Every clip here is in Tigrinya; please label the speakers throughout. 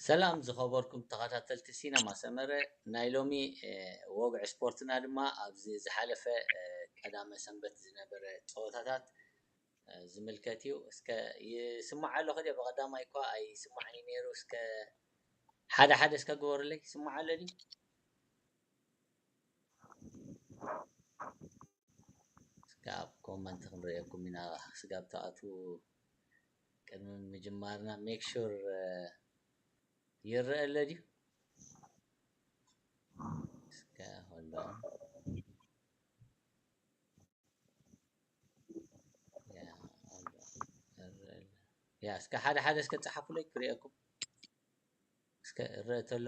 Speaker 1: ሰላም ዝኸበርኩም ተኸታተልቲ ሲነማ ሰመረ ናይ ሎሚ ወግዒ ስፖርትና ድማ ኣብዚ ዝሓለፈ ቀዳመ ሰንበት ዝነበረ ፀወታታት ዝምልከት እዩ። እስከ ይስማዕ ኣሎ ከ ብቀዳማይ እኳ ኣይስማዕን እዩ ነይሩ እስከ ሓደ ሓደ እስከ ግበሩለይ ይስማዕ ኣሎ ድዩ? ስጋብ ኮመንት ክንርእየኩም ኢና ስጋብ ትኣትዉ ቅድሚ ምጅማርና make sure ይረኣ ኣሎ ድዩ እስከ hold on ያ እስከ ሓደ ሓደ እስከ ጸሓፉለይ ክሪኤኩም እስከ እረአ ተሎ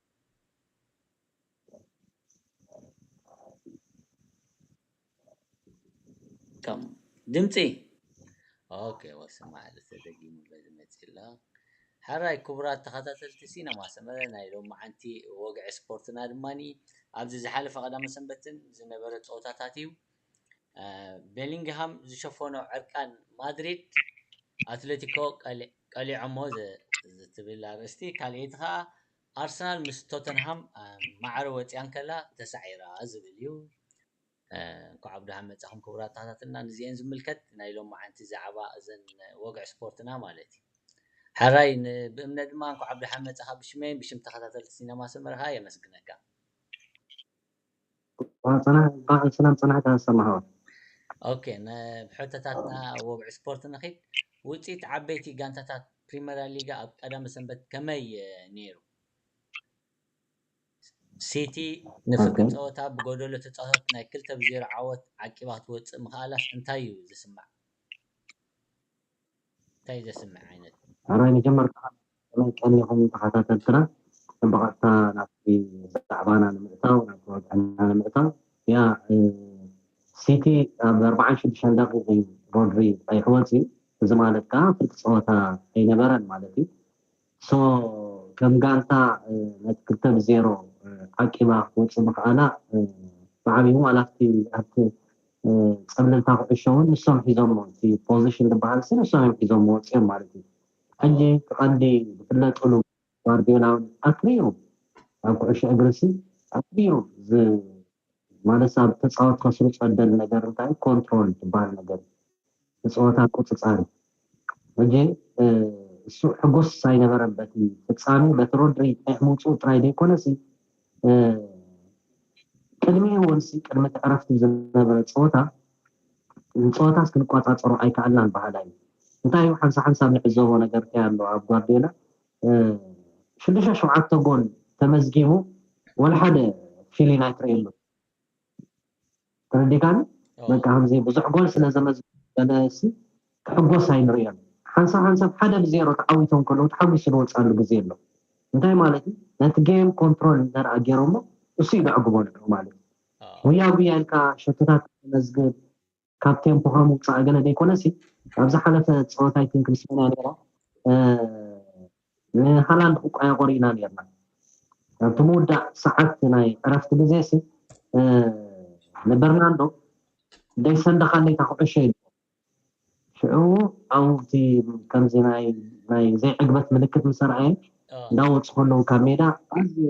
Speaker 1: ከም ድምፂ ኦኬ ወስማ ተደጊሙ ዝመፅ ኣሎ ሓራይ ክቡራት ተኸታተልቲ ሲነማ ሰመረ ናይ ሎማዓንቲ ወግዒ ስፖርትና ድማ ኣብዚ ዝሓለፈ ቀዳመ ሰንበትን ዝነበረ ፀወታታት እዩ። ቤሊንግሃም ዝሸፈኖ ዕርቃን ማድሪድ ኣትለቲኮ ቀሊዖሞ ዝትብል ኣርእስቲ ካልኣይቲ ከኣ ኣርሰናል ምስ ቶተንሃም ማዕረ ወጺኣ እንከላ ተሳዒራ ዝብል እዩ። እንኳዕ ብደሓን መጻኹም ክቡራት ተኸታተልና ንዚኤን ዝምልከት ናይ ሎማዓንቲ ዛዕባ እዘን ወግዒ ስፖርትና ማለት እዩ። ሐራይ ብእምነ ድማ እንኳዕ ብደሓን መጻኻ ብሽመይን ብሽም ተኸታተልቲ ሲነማ ሰመረ ከኣ የመስግነካ። እንኳዕ
Speaker 2: ብሰላም ፀናሕካ ሰማሃር። ኦኬ
Speaker 1: ናብ ሕቶታትና ወግዒ ስፖርት ንኺድ። ውጽኢት ዓበይቲ ጋንታታት ፕሪመራ ሊጋ ኣብ ቀዳመ ሰንበት ከመይ ነይሩ? ሲቲ ንፍርቂ ጸወታ ብጎደሎ ተጻዋታት ናይ ክልተ ብ ዜሮ ዓወት ዓቂባ ክትወጽእ ምኽኣላስ እንታይ'ዩ ዝስማዕ? ታይ ዘስምዕ ዓይነት። ሐራይ መጀመርታ
Speaker 2: ከመይ ቀኒኹም ተኻታተልትና እቶም ብቐጥታ ናብቲ ብዛዕባና ንምእታው ናብቲ ወግዕና ንምእታው ያእ ሲቲ ኣብ ኣርብዓን ሽዱሽተን ደቒቕ እዩ ሮድሪ ቐይሑ ወጺኡ እዚ ማለት ከኣ ፍርቂ ጸወታ ኣይነበረን ማለት እዩ So ከም ጋንታ ነቲ ክልተ ብ ዜሮ ዓቂባ ክትወጽእ ምኽኣላ ብዓቢኡ ዋላ'ቲ ኣብቲ ጸብለልታ ኩዕሾ ውን ንሶም ሒዞሞ እቲ ፖዚሽን ዝበሃልሲ ንሶም እዮም ሒዞሞ ወጺኦም ማለት እዩ። ሕጂ እቲ ቀንዲ ዝፍለጥሉ ጓርድዮላ ውን ኣትሪሩ ኣብ ኩዕሾ እግሪሲ ኣትሪሩ ማለት ኣብ ተጻወት ከስሩ ጸደል ነገር እንታይ ኮንትሮል ትባል ነገር ንጸወታ ቁጽጻር እዩ ሕጂ እሱ ሕጉስ ኣይነበረን በቲ ፍጻሜ በቲ ሮድሪ ቀይሕ ምውጽኡ ጥራይ ዘይኮነሲ ቅድሚ ወንሲ ቅድሚ ትዕረፍቲ ዝነበረ ጸወታ ንጸወታ ክንቋጻጸሮ ኣይከኣልናን በሃላይ እዩ እንታይ እዩ ሓንሳ ሓንሳብ ንዕዘቦ ነገር እንታይ ኣሎ ኣብ ጓርዲዮላ ሽዱሽተ ሸውዓተ ጎል ተመዝጊቡ ወላ ሓደ ፊሊን ኣይትርእየሉ ተረዲካኒ በቃ ከምዚ ብዙሕ ጎል ስለ ዘመዝገበሲ ክሕጎስ ኣይንርእዮን ሓንሳብ ሓንሳብ ሓደ ብዜሮ ተዓዊቶም ከለዉ ተሓጒሱ ዝወፅኣሉ ግዜ ኣሎ እንታይ ማለት እዩ ነቲ ጌም ኮንትሮል እንተደኣ ገይሮሞ እሱ እዩ ዘዕግቦ ነይሩ ማለት እዩ ጉያ ጉያ ኢልካ ሸቶታት መዝግብ ካብ ቴምፖኻ ምውፃእ ገለ ዘይኮነሲ ኣብ ዝሓለፈ ፀወታ ኣይቲንክ ምስ መን እያ ነይራ ንሃላንድ ቁቋያ ቆሪእና ነርና ኣብቲ ምውዳእ ሰዓት ናይ ዕረፍቲ ግዜ ሲ ንበርናንዶ ደይሰንደኻለይ እታ ኩዕሾ ኢሉ ሽዑ ኣብቲ ከምዚ ናይ ዘይዕግበት ምልክት ምሰርኣየ እንዳወፁ ከለዉ ካብ ሜዳ ኣዝዩ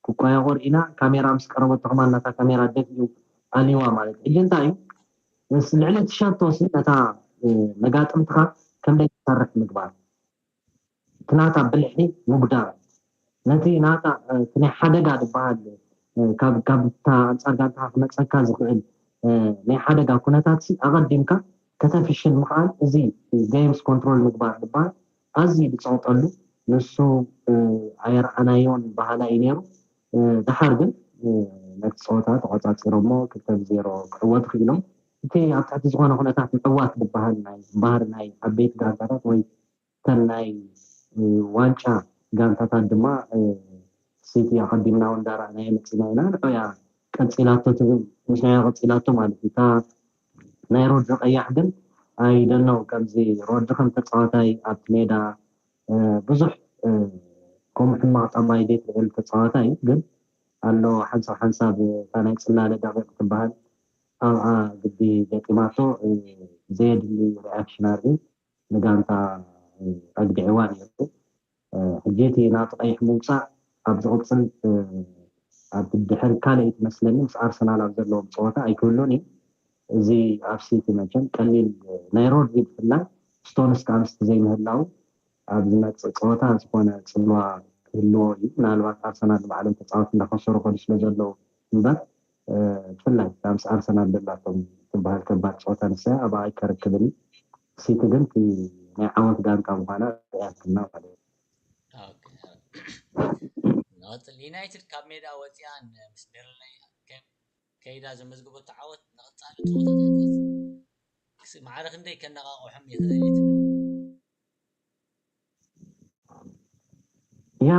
Speaker 2: ክቋያቆር ኢና ካሜራ ምስ ቀረበትኹም ኣላ እታ ካሜራ ደፊኡ ኣልዩዋ ማለት ሕጂ እንታይ እዩ ምስ ልዕሊ ትሸቶ ሲ ነታ መጋጥምትኻ ከምደይ ትሰርሕ ምግባር እቲ ናታ ብልሒ ምጉዳል ነቲ ናታ እቲ ናይ ሓደጋ ዝበሃል ካብ ካብታ ኣንጻር ጋንታኻ ክመጸካ ዝኽእል ናይ ሓደጋ ኩነታት ሲ ኣቐዲምካ ከተፍሽል ምኽኣል እዚ ገይምስ ኮንትሮል ምግባር ዝበሃል ኣዝዩ ዝጸቕጠሉ ንሱ ኣየርኣናዮን በሃላይ'ዩ ነይሩ። ደሓር ግን ነቲ ጸወታ ተቖጻጺሮሞ ክልተ ብ ዜሮ ክዕወቱ ክኢሎም። እቲ ኣብ ትሕቲ ዝኾነ ኩነታት ምዕዋት ዝበሃል ናይ ባህሪ ናይ ዓበይቲ ጋንታታት ወይ እተን ናይ ዋንጫ ጋንታታት ድማ ሲቲ ኣቐዲምና'ውን እንዳረኣናዮ መጺእና ኢና። ንዑ'ያ ቀጺላቶ ትብል ምስናያ ቀጺላቶ ማለት'ዩ። እታ ናይ ሮድሪ ቀያሕ ግን ኣይ ዶንት ኖው ከምዚ ሮድሪ ከም ተጻዋታይ ኣብቲ ሜዳ ብዙሕ ከምኡ ሕማቕ ጠባይ ዘይትርእየሉ ተጻዋታይ እዩ ግን ኣሎ ሓንሳብ ሓንሳብ እታ ናይ ጽላለ ደቂቕ ትበሃል ኣብኣ ግዲ ገጢማቶ ዘየድሊ ሪኣክሽን ኣርእዩ ንጋንታ ኣግዲዕዋ ነይሩ። ሕጂ እቲ ናብቲ ቀይሕ ምውጻእ ኣብ ዝቕጽል ኣብ ድሕሪ ካልኣይቲ መስለኒ ምስ ኣርሰናል ኣብ ዘለዎም ጸወታ ኣይክህሉን እዩ እዚ ኣብ ሲቲ መቸም ቀሊል ናይ ሮድሪ ብፍላይ ስቶንስ ከኣ ምስቲ ዘይምህላዉ ኣብ ዝመጽእ ጸወታ ዝኾነ ጽልዋ ክህልዎ እዩ ምናልባት ኣርሰናል ንባዕሎም ተጻወቲ እንዳኸሰሩ ከዱ ስለዘለዉ እምበር ብፍላይ እታ ምስ ኣርሰናል ዘላቶም ትበሃል ከባድ ጸወታ ንሳ'ያ ኣብኣ ኣይከረክብን እዩ። ሲቲ ግን እቲ ናይ ዓወት ጋንታ ምዃና ኣርእያትልና ማለት
Speaker 1: እዩ። ዩናይትድ ካብ ሜዳ ወጺኣ ምስ በርንለይ ከይዳ ዘመዝገበቶ ዓወት ንቐጻሊ ጸወታታታ ክሳዕ ማዕረ ክንደይ ከነቓቕሖም ይኽእል እዩ ትብል?
Speaker 2: ያ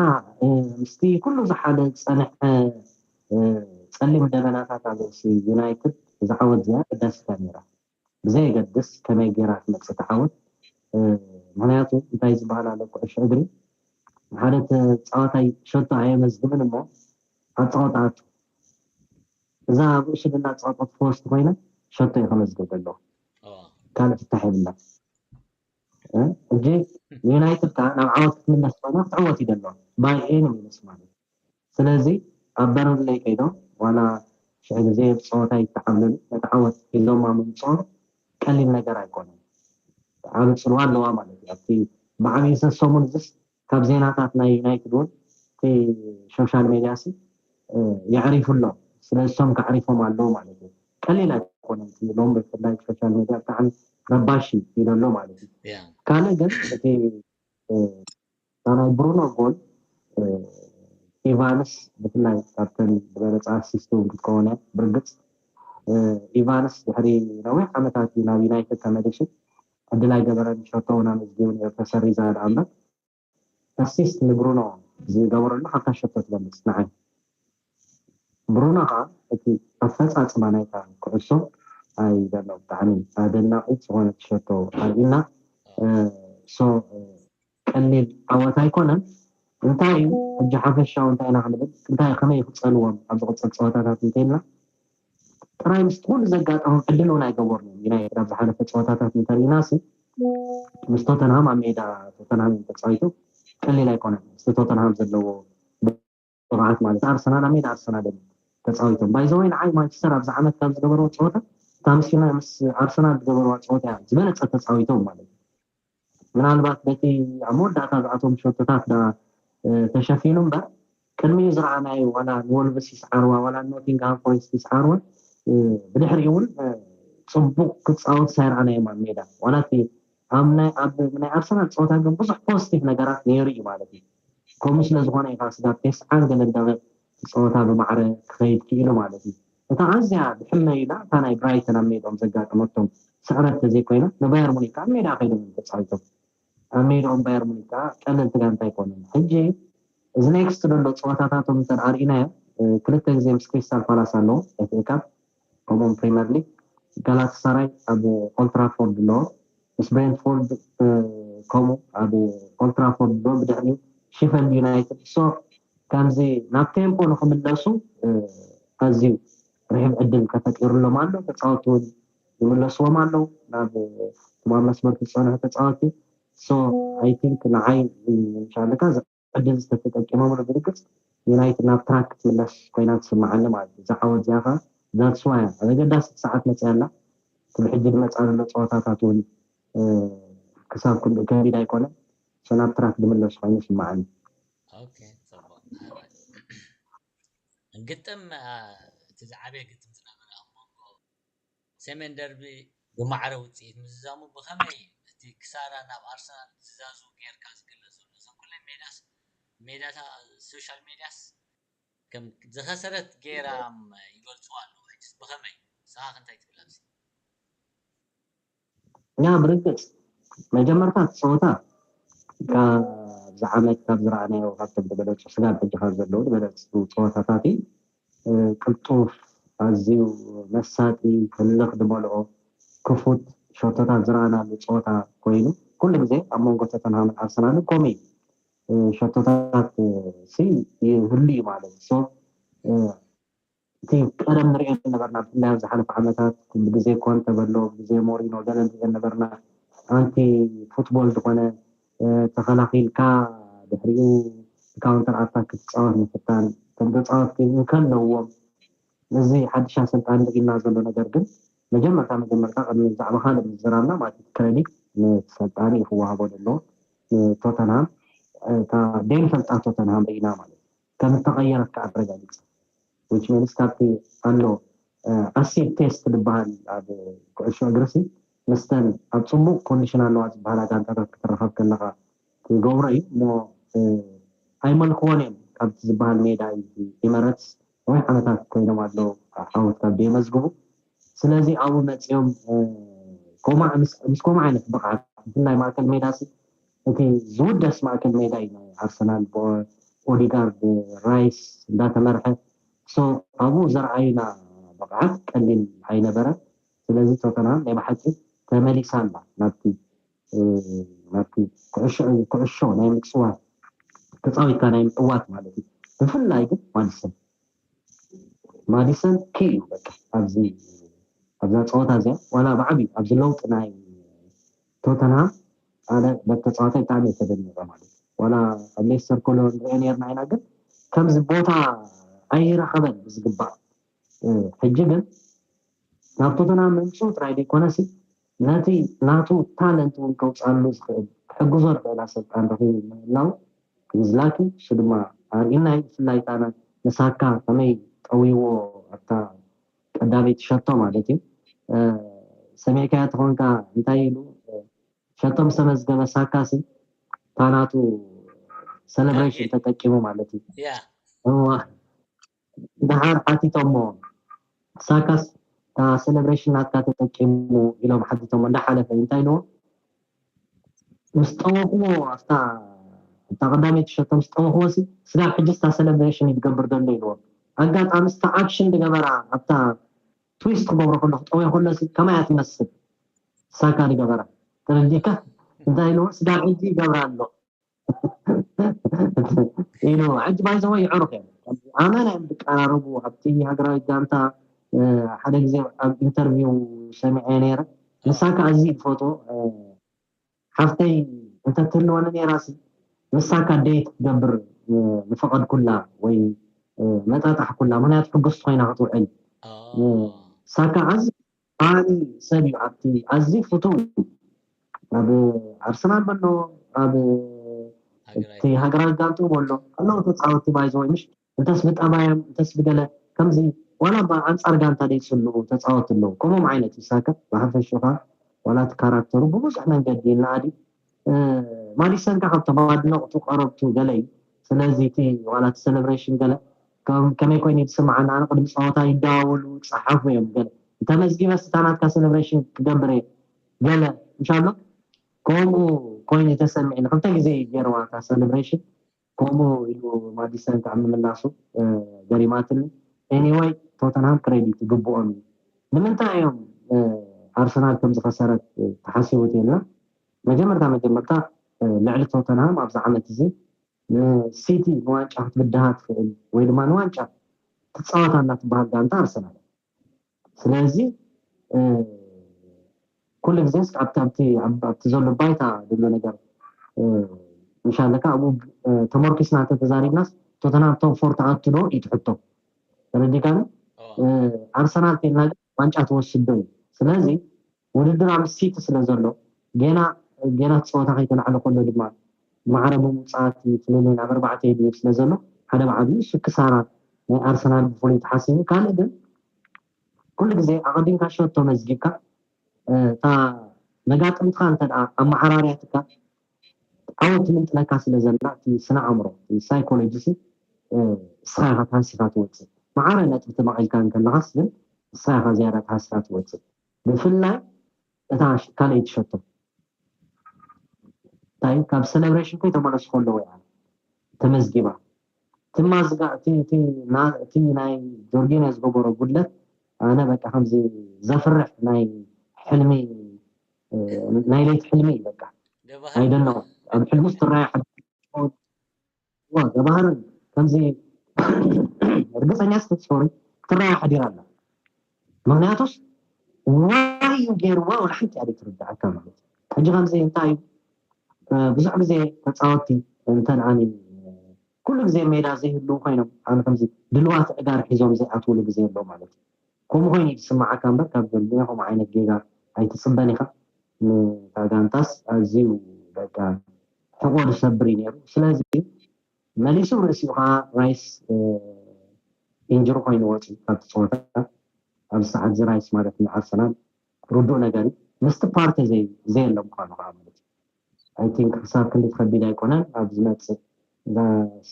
Speaker 2: ምስቲ ኩሉ ዝሓደ ዝጸንሐ ጸሊም ደበናታት ኣልሲ ዩናይትድ እዛ ዓወት እዚኣ ኣገዳሲታ ነይራ ብዘየገድስ ከመይ ገይራ ትመጽእ እታ ዓወት ምክንያቱ እንታይ ዝበሃል ኣሎ ኩዕሾ እግሪ ሓደ ተጻዋታይ ሸቶ ኣየመዝግብን እሞ ኣጻወታኣቱ እዛ ኣብ ሽግና ጸወጠት ፎስት ኮይና ሸቶ እዩ ከመዝግብ ዘለዎ ካልእ ፍታሕ የብላ ሕጂ ንዩናይትድ ከኣ ናብ ዓወት ክትምለስ ኮይና ክትዕወት እዩ ደሎ ባይ ኤኒ ሚንስ ማለት ስለዚ ኣብ በርንለይ ከይዶም ዋላ ሽሕ ግዜ ጸወታ ይተዓብለሉ ነቲ ዓወት ሒዞማ ምምጽኦም ቀሊል ነገር ኣይኮነን ዓቢ ጽልዋ ኣለዋ ማለት እዩ ኣብቲ ብዓቢኡ ሰሰሙን እዚስ ካብ ዜናታት ናይ ዩናይትድ ውን እቲ ሾሻል ሜድያሲ የዕሪፉ ኣሎ ስለዚ እሶም ከዕሪፎም ኣለዉ ማለት እዩ ቀሊል ኣይኮነን እቲ ሎም ብፍላይ ሾሻል ሜድያ ብጣዕሚ ረባሺ ኢሎ ኣሎ ማለት እዩ ካልእ ግን እቲ ናይ ብሩኖ ጎል ኢቫንስ ብፍላይ ካብተን ዝበለፃ ኣሲስቲ ውን ክትከውን እያ ብርግፅ ኢቫንስ ድሕሪ ነዊሕ ዓመታት እዩ ናብ ዩናይትድ ተመሊሱ ዕድል ኣይገበረን ሸቶ ውን ኣመዝጊቡ ኔሩ ተሰሪዛ ድኣ እምበር ኣሲስት ንብሩኖ ዝገበረሉ ካብታ ሸቶ ትበልጽ ንዓይ ብሩኖ ከኣ እቲ ኣፈጻጽማ ናይታ ኩዕሶ ኣይ ዶኖ ብጣዕሚ ኣደናቂት ዝኮነት ሸቶ ኣርኢና ሶ ቀሊል ዓወት ኣይኮነን እንታይ እዩ ሕጂ ሓፈሻዊ እንታይ ኢና ክንብል እንታይ ከመይ ክጸልዎም ኣብ ዝቕጽል ጸወታታት እንተይልና ጥራይ ምስ ኩሉ ዘጋጠሞም ዕድል እውን ኣይገበርሉን ዩናይትድ ኣብ ዝሓለፈ ጸወታታት እንተሪኢናሲ ምስ ቶተንሃም ኣብ ሜዳ ቶተንሃም ተጻዊቱ ቀሊል ኣይኮነን ምስቲ ቶተንሃም ዘለዎ ቅብኣት ማለት ኣርሰናል ኣብ ሜዳ ኣርሰናል እዮም ተጻዊቶም ባይዘወይ ንዓይ ማንቸስተር ኣብዚ ዓመት ካብ ዝገበርዎ ጸወታ እታ ምስ ዩናይ ምስ ኣርሰናል ዝገበርዋ ጸወታ እያ ዝበለጸ ተጻዊቶም ማለት እዩ ምናልባት በቲ ኣብ መወዳእታ ዝኣቶም ሸቶታት ዳ ተሸፊኑ እምበር ቅድሚኡ ዝረኣናዮ ዋላ ንወልቭስ ይስዓርዋ ዋላ ኖቲንግሃም ፎሬስት ይስዓርወን ብድሕሪኡ እውን ፅቡቅ ክፃወት ሳይረኣናዮም ኣብ ሜዳ ዋላ እቲ ኣብ ናይ ኣርሰናል ፀወታ ግን ብዙሕ ፖዚቲቭ ነገራት ነይሩ እዩ ማለት እዩ ከምኡ ስለ ዝኾነ ኢኻ ስጋብ ቴስዓን ገለን ደቒቕ እቲ ጸወታ ብማዕረ ክኸይድ ክኢሉ ማለት እዩ። እታ ኣዝያ ብሕመዩ ኢላ እታ ናይ ብራይተን ኣብ ሜድኦም ዘጋጠመቶም ስዕረት ተዘይኮይና ንባየር ሙኒክ ከኣ ኣብ ሜድኣ ከይዶም እዮም ተጻዊቶም። ኣብ ሜድኦም ባየር ሙኒክ ከኣ ቀለልቲ ጋንታ ኣይኮኑን። ሕጂ እዚ ኔክስት ደሎ ጸወታታቶም እንተ ኣርኢናዮ ክልተ ግዜ ምስ ክሪስታል ፓላስ ኣለዎም ኤፍኤ ካፕ፣ ከምኡውን ፕሪመር ሊግ ጋላታሳራይ ኣብ ኦልትራፎርድ ኣለዎ ምስ ብሬንትፎርድ ከምኡ ኣብ ኦልትራፎርድ ኣለዎ ብድሕሪኡ ሽፈልድ ዩናይትድ ሶ ከምዚ ናብ ቴምፖ ንክምለሱ ኣዝዩ ርሕብ ዕድል ተፈጢሩሎም ኣሎ ተፃወቲ እውን ይምለስዎም ኣለዉ ናብ ትማብ መስመር ዝፀንሑ ተፃወቲ ሶ ኣይ ቲንክ ንዓይ ሻለካ ዕድል ዝተተጠቂመምሉ ብርግጽ ዩናይትድ ናብ ትራክ ክትምለስ ኮይና ትስምዓኒ ማለት እዩ እዛ ዓወት እዚኣ ከኣ that's why እያ ኣብ ኣገዳሲት ሰዓት መጺኣ ኣላ እቲ ብሕጂ ድመጻ ዘሎ ጸወታታት ውን ክሳብ ክንድኡ ከቢድ ኣይኮነን so ናብ ትራክ ድምለስ ኮይኑ ይስምዓኒ። ኦኬ ጽቡቅ
Speaker 1: ሃላይ ግጥም እቲ ዝዓበየ ግጥም ዝነበረ ኣብ መንጎ። ሰሜን ደርቢ ብማዕረ ውጽኢት ምዝዛሙ ብኸመይ እዩ እቲ ክሳራ ናብ ኣርሰናል ዝዛዝው ጌርካ ዝግለጽ ዘሎ? እዘን ኩለን ሜዳስ ሜዳታ ሶሻል ሜድያስ። ከም ዝኸሰረት ጌራም ይገልጹዋ ኣለዉ ሕጅስ ብኸመይ? ንስኻኸ እንታይ ትብል ኣብዚ?
Speaker 2: እኛ ብርግጽ መጀመርታ እቲ ጸወታ ካብዚ ዓመት ካብ ዝረኣናዮ ካብቶም ዝበለጹ ስጋብ ሕጂ ካብ ዘለዉ ዝበለጹ ጸወታታት እዩ። ቅልጡፍ፣ ኣዝዩ መሳጢ፣ ህልኽ ዝመልኦ፣ ክፉት ሸቶታት ዝረኣናሉ ጸወታ ኮይኑ ኩሉ ግዜ ኣብ መንጎ ቶተንሃምን ኣርሰናልን ከምኡ እዩ። ሸቶታትሲ ይህሉ እዩ ማለት ሶ እቲ ቀደም ንሪኦ ዝነበርና ብፍላይ ኣብ ዝሓለፈ ዓመታት ኩሉ ግዜ ኮንተ በሎ ግዜ ሞሪኖ ገለ ንሪኦ ነበርና ኣንቲ ፉትቦል ዝኾነ ተኸላኺልካ ድሕሪኡ ብካውንተር ኣታክ ክትጻወት ምፍታን እቶም ተጻወትቲ እንከለዉዎም እዚ ሓድሽ ኣሰልጣኒ ኢልና ዘሎ ነገር ግን መጀመርታ መጀመርታ ቅድሚ ብዛዕባ ካልእ ምዝራብና ማለት እቲ ክረዲት ንሰልጣኒ እዩ ክወሃቦ ዘለዎ ንቶተንሃም እታ ደይንፈልጣ ቶተንሃም ርኢና ማለት እዩ ከም እተቐየረት ከኣ ኣረጋጊጻ። ዊች ሚንስ ካብቲ ኣሎ ኣሲድ ቴስት ዝበሃል ኣብ ኩዕሾ እግሪሲ ምስተን ኣብ ጽቡቕ ኮንዲሽን ኣለዋ ዝበሃላ ጋንታታት ክትራኸብ ከለኻ ትገብሮ እዩ እሞ ኣይመልክዎን እዮም ካብቲ ዝበሃል ሜዳ እዩ ኢመረትስ ነዊሕ ዓመታት ኮይኖም ኣለዉ ዓወት ካብ ደየመዝግቡ ስለዚ ኣብኡ መጺኦም ኮማዕ ምስ ኮማዕ ዓይነት ብቕዓት ብፍላይ ማእከል ሜዳሲ እቲ ዝውደስ ማእከል ሜዳ እዩ ናይ ኣርሰናል ብ ኦዲጋርድ ራይስ እንዳተመርሐ so ኣብኡ ዘርኣዩና ብቕዓት ቀሊል ኣይነበረን ስለዚ ቶተንሃም ናይ ብሓቂ ተመሊሳ ኣላ ናብቲ ናብቲ ኩዕሾ ኩዕሾ ናይ ምጽዋት ተጻዊትካ ናይ ምዕዋት ማለት እዩ ብፍላይ ግን ማዲሰን ማዲሰን ኪ እዩ በቃ ኣብዚ ኣብዛ ጸወታ እዚኣ ዋላ ብዓቢ ኣብዚ ለውጢ ናይ ቶተንሃም ኣነ በቲ ተጻዋታይ ብጣዕሚ እየ ተደኒቐ ማለት ዋላ ኣብ ሌስተር ኮሎ ንሪኦ ኔርና ኢና ግን ከምዚ ቦታ ኣይረኸበን ብዝግባእ ሕጂ ግን ናብ ቶተንሃም ምምጽኡ ጥራይ ዘይኮነሲ ነቲ ናቱ ታለንት እውን ከውጻሉ ዝኽእል ክሕግዞ ዝኽእል ኣሰልጣን ረኺቡ ምህላው ንዝላኪ እሱ ድማ ኣርኢና እዩ ብፍላይ ከኣ ንሳካ ከመይ ጠዊዎ ኣብታ ቀዳመይቲ ሸቶ ማለት እዩ ሰሚዕካያ ተኾንካ እንታይ ኢሉ ሸቶ ምስ ተመዝገበ ሳካሲ እታ ናቱ ሰለብሬሽን ተጠቂሙ ማለት እዩ ድሓር ሓቲቶሞ ሳካስ እታ ሰለብሬሽን ናትካ ተጠቂሙ ኢሎም ሓቲቶሞ እንዳሓለፈ እንታይ ኢልዎ ምስ ጠመኽዎ ኣፍታ እታ ቀዳመይቲ ሸቶ ምስ ጠመኽዎሲ ስጋብ ሕጂ እስታ ሰለብረሽን እዩ ዝገብር ዘሎ ኢልዎም ኣጋጣሚ እስታ ኣክሽን ዝገበራ ኣብታ ትዊስት ክገብሮ ከሎ ክጠምዮ ከሎሲ ከመይ እያ ትመስል ሳካ ዝገበራ ተረዲእካ እንታይ ኢልዎ ስጋብ ሕጂ ይገብራ ኣሎ ኢሉ ሕጂ ባይ ዘወይ ይዕሩኽ እዮም ኣመና እዮም ዝቀራረቡ ኣብቲ ሃገራዊት ጋንታ ሓደ ግዜ ኣብ ኢንተርቪው ሰሚዐ ነይረ ንሳ ከዓ እዚ ትፈትዎ ሓፍተይ እንተትህልወኒ ነይራሲ ንሳ ከዓ ደይ ክትገብር ዝፈቐድኩላ ወይ መጣጣሕኩላ ምክንያቱ ሕጉስቲ ኮይና ክትውዕል ሳካ ኣዝ ዓቢ ሰብ እዩ ኣብቲ ኣዝዩ ፍቱው ኣብ ኣርሰናል በሎ ኣብ እቲ ሃገራዊ ጋንትኡ በሎ ኣለዉ ተጻወቲ ባይዘወይ ምሽ እንተስ ብጠባዮም እንተስ ብገለ ከምዚ ዋላ እባ ኣንጻር ጋንታ ደይጽልኡ ተጻወቲ ኣለዉ ከምኦም ዓይነት ይሳከ ብሓፈሽኡ ከኣ ዋላ እቲ ካራክተሩ ብብዙሕ መንገዲ ይነኣድ ማዲሰንካ ካብቶም ኣድነቕቱ ቀረብቱ ገለዩ ስለዚ እቲ ዋላ እቲ ሰለብሬሽን ገለ ከመይ ኮይኑ እዩ ዝስምዓኒ ኣነ ቅድሚ ፀወታ ይደዋወሉ ይፀሓፉ እዮም ገለ ተመዝጊበ ስታ ናትካ ሰለብሬሽን ክገብር እየ ገለ እንሻሎ ከምኡ ኮይኑ ተሰሚዕኒ ክልተ ግዜ እዩ ገይረዋ እታ ሰለብሬሽን ኮሞ ኢሉ ማዲሰን ክኣ ምምላሱ ገሪማትኒ ኤኒወይ ቶተንሃም ክረዲት ይግብኦም እዩ ንምንታይ እዮም ኣርሰናል ከም ዝኸሰረት ተሓሲቡ ተይልና መጀመርታ መጀመርታ ልዕሊ ቶተንሃም ኣብዚ ዓመት እዚ ንሲቲ ንዋንጫ ክትብድሃ ትኽእል ወይ ድማ ንዋንጫ ትጻወት ኣላ ትብሃል ጋንታ ኣርሰናል እያ ስለዚ ኩሉ ግዜ እስከ ኣብቲ ኣብቲ ኣብቲ ዘሎ ባይታ ዝብሎ ነገር ምሻለ ከ ኣብኡ ተመርኪስና ተተዛሪብናስ ቶተናም ቶም ፎር ትኣቱ ዶ እዩ ትሕቶ ተረዲካኒ ኣርሰናል ኬድና ግን ዋንጫ ትወስድ ዶ እዩ ስለዚ ውድድር ኣብ ሲቲ ስለ ዘሎ፣ ገና ገና እቲ ጸወታ ከይተላዕለ ከሎ ድማ ማዕረ ብምውጻእ'ቲ ፍልልይ ናብ ኣርባዕተ ይድይብ ስለ ዘሎ፣ ሓደ ብ ዓቢኡ እሱ ክሳራ ናይ ኣርሰናል ብፍሉይ ተሓሲቡ፣ ካልእ ግን ኩሉ ግዜ ኣቐዲምካ ሸቶ መዝጊብካ እታ መጋጥምትኻ እንተድኣ ኣመዓራርያትካ ዓወት ትምንጥለካ ስለ ዘላ እቲ ስነ-ኣእምሮ እቲ ሳይኮሎጂ'ሲ እስኻ ኢኻ ተሃሲኻ ትወጽእ፣ ማዕረ ነጥቢ ተመቒልካ እንከለኻስ ግን እስኻ ኢኻ ዝያዳ ተሃሲኻ ትወጽእ። ብፍላይ እታ ካልኣይቲ ሸቶ እንታይ እዩ ካብ ሰለብሬሽን ከይተመለሱ ከለዉ እያ ተመዝጊባ እቲ ማዝጋ እቲ ናይ ጆርጊኖ ዝገበሮ ጉድለት ኣነ በቃ ከምዚ ዘፍርሕ ናይ ሕልሚ ናይ ለይቲ ሕልሚ እዩ በቃ ኣይደነቑ ኣብ ሕልሚ ውስጥ ትራያ እወ ገባህር ከምዚ እርግፀኛ ስትፅዮሪ ክትረኣያ ሓዲራ ኣላ ምክንያቱስ ዋይ እዩ ገይርዋ ወላ ሓንቲ እያ ዘይትርድኣካ ማለት እዩ ሕጂ ከምዚ እንታይ እዩ ብዙሕ ግዜ ተፃወትቲ እንተን ዓሚ ኩሉ ግዜ ሜዳ ዘይህልው ኮይኖም ዓሚ ከምዚ ድልዋት ዕጋር ሒዞም ዘይኣትውሉ ግዜ ኣሎ ማለት እዩ ከምኡ ኮይኑ እዩ ዝስምዓካ እምበር ካብ ዘልድዮ ከምኡ ዓይነት ጌጋ ኣይትፅበን ኢኻ ንታ ጋንታስ ኣዝዩ በቃ ሕቖኡ ዝሰብር እዩ ነይሩ። ስለዚ መሊሱ ርእሲኡ ከኣ ራይስ ኢንጅሪ ኮይኑ ወጺኡ ካብቲ ጸወታ። ኣብዚ ሰዓት እዚ ራይስ ማለት ንኣርሰናል ርዱእ ነገር እዩ። ምስቲ ፓርተ ዘየለ ምዃኑ ከኣ ማለት እዩ። ኣይ ቲንክ ክሳብ ክንዲ ከቢድ ኣይኮነን። ኣብ ዝመጽእ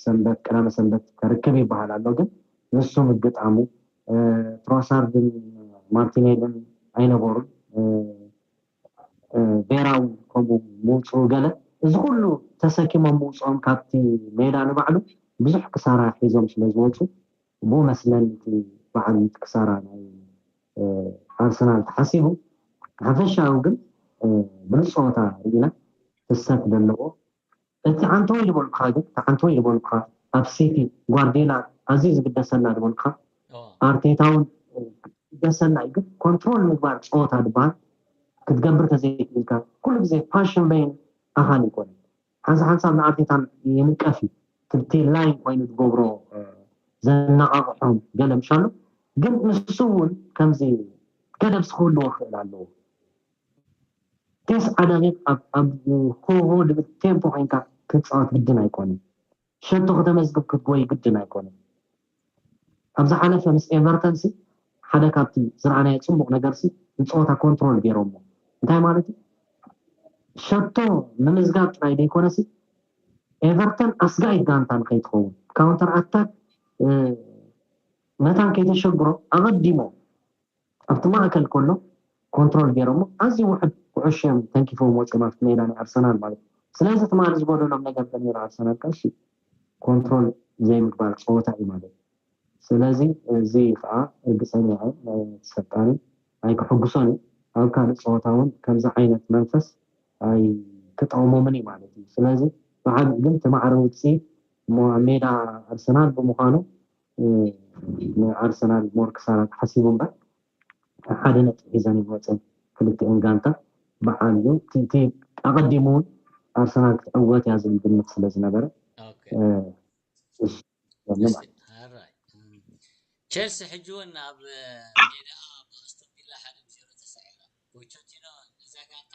Speaker 2: ሰንበት ቀዳመ ሰንበት ከርክብ ይበሃል ኣሎ ግን ንሱ ምግጣሙ ትሮሳርድን ማርቲኔልን ኣይነበሩን። ጌራም ከምኡ ምውጽኡ ገለ እዚ ኩሉ ተሰኪሞም ምውጽኦም ካብቲ ሜዳ ንባዕሉ ብዙሕ ክሳራ ሒዞም ስለ ዝወጹ ብኡ መስለን እቲ በዓል እቲ ክሳራ ናይ ኣርሰናል ተሓሲቡ ብሓፈሻዊ ግን ብሉጽ ጸወታ ርኢና ፍሰት ደለዎ እቲ ዓንተወይ ዝበልኩኻ ግን እቲ ዓንተወይ ዝበልኩኻ ኣብ ሲቲ ጓርድዮላ ኣዝዩ ዝግደሰና ዝበልኩኻ ኣርቴታ ውን ይግደሰና እዩ ግን ኮንትሮል ምግባር ጸወታ ዝበሃል ክትገብር ተዘይክኢልካ ኩሉ ግዜ ፓሽን በይን ኣኻሊ ይኮነ ሓንሳ ሓንሳብ ንኣርቴታ ይንቀፍ እዩ ትብቲ ላይን ኮይኑ ዝገብሮ ዘነቓቕሖም ገለ ምሻሉ ግን ንሱ ውን ከምዚ ገደብስ ክህልዎ ክእል ኣለዎ ቴስ ዓዳቤት ኣብ ኮቮ ልምድ ቴምፖ ኮይንካ ክትጻወት ግድን ኣይኮነን። ሸቶ ከተመዝግብ ክትጎይ ግድን ኣይኮነን። ኣብ ዝሓለፈ ምስ ኤቨርተንሲ ሓደ ካብቲ ዝረኣናዮ ጽቡቕ ነገርሲ ንጸወታ ኮንትሮል ጌሮሞ። እንታይ ማለት እዩ? ሸቶ ምምዝጋብ ጥራይ ዘይኮነሲ ኤቨርተን ኣስጋኢት ጋንታ ንኸይትኸውን ካውንተር ኣታክ መታን ከይተሸግሮም ኣቐዲሞም ኣብቲ ማእከል ከሎ ኮንትሮል ጌሮሞ ኣዝዩ ውሑድ ኩዑሾ ኢዮም ተንኪፎም ወጺኦም ኣብቲ ሜዳ ናይ ኣርሰናል ማለት ኢዩ። ስለዚ ትማሊ ዝጎደሎም ነገር እንተነይሩ ኣርሰናል ቀሺ ኮንትሮል ዘይምግባር ጸወታ ኢዩ ማለት ኢዩ። ስለዚ እዚ ከኣ ርግጸኛ ኢየ ነቲ ሰልጣኒ ኣይክሕጉሶን ኢዩ። ኣብ ካልእ ጸወታ ውን ከምዚ ዓይነት መንፈስ ኣይክጠቕሞምን ኢዩ ማለት ኢዩ። ስለዚ ብዓቢኡ ግን እቲ ማዕረ ውጽኢት እሞ ኣብ ሜዳ ኣርሰናል ብምዃኑ ንኣርሰናል ሞር ክሳራ ተሓሲቡ እምበር ሓደ ነጥቢ ሒዘን እየን ወፅየን ክልቲኤን ጋንታ ብዓል እቲ ኣቐዲሙ እውን ኣርሰናል ክትዕወት እያ ዝብል ግምት ስለ ዝነበረ
Speaker 1: ቸልሲ ሕጂ እውን ኣብ ሜድኣ ብኣስቶን ቪላ ሓደ ብዜሮ ተሳዒራ ፖቸቲኖ ነዛ ጋንታ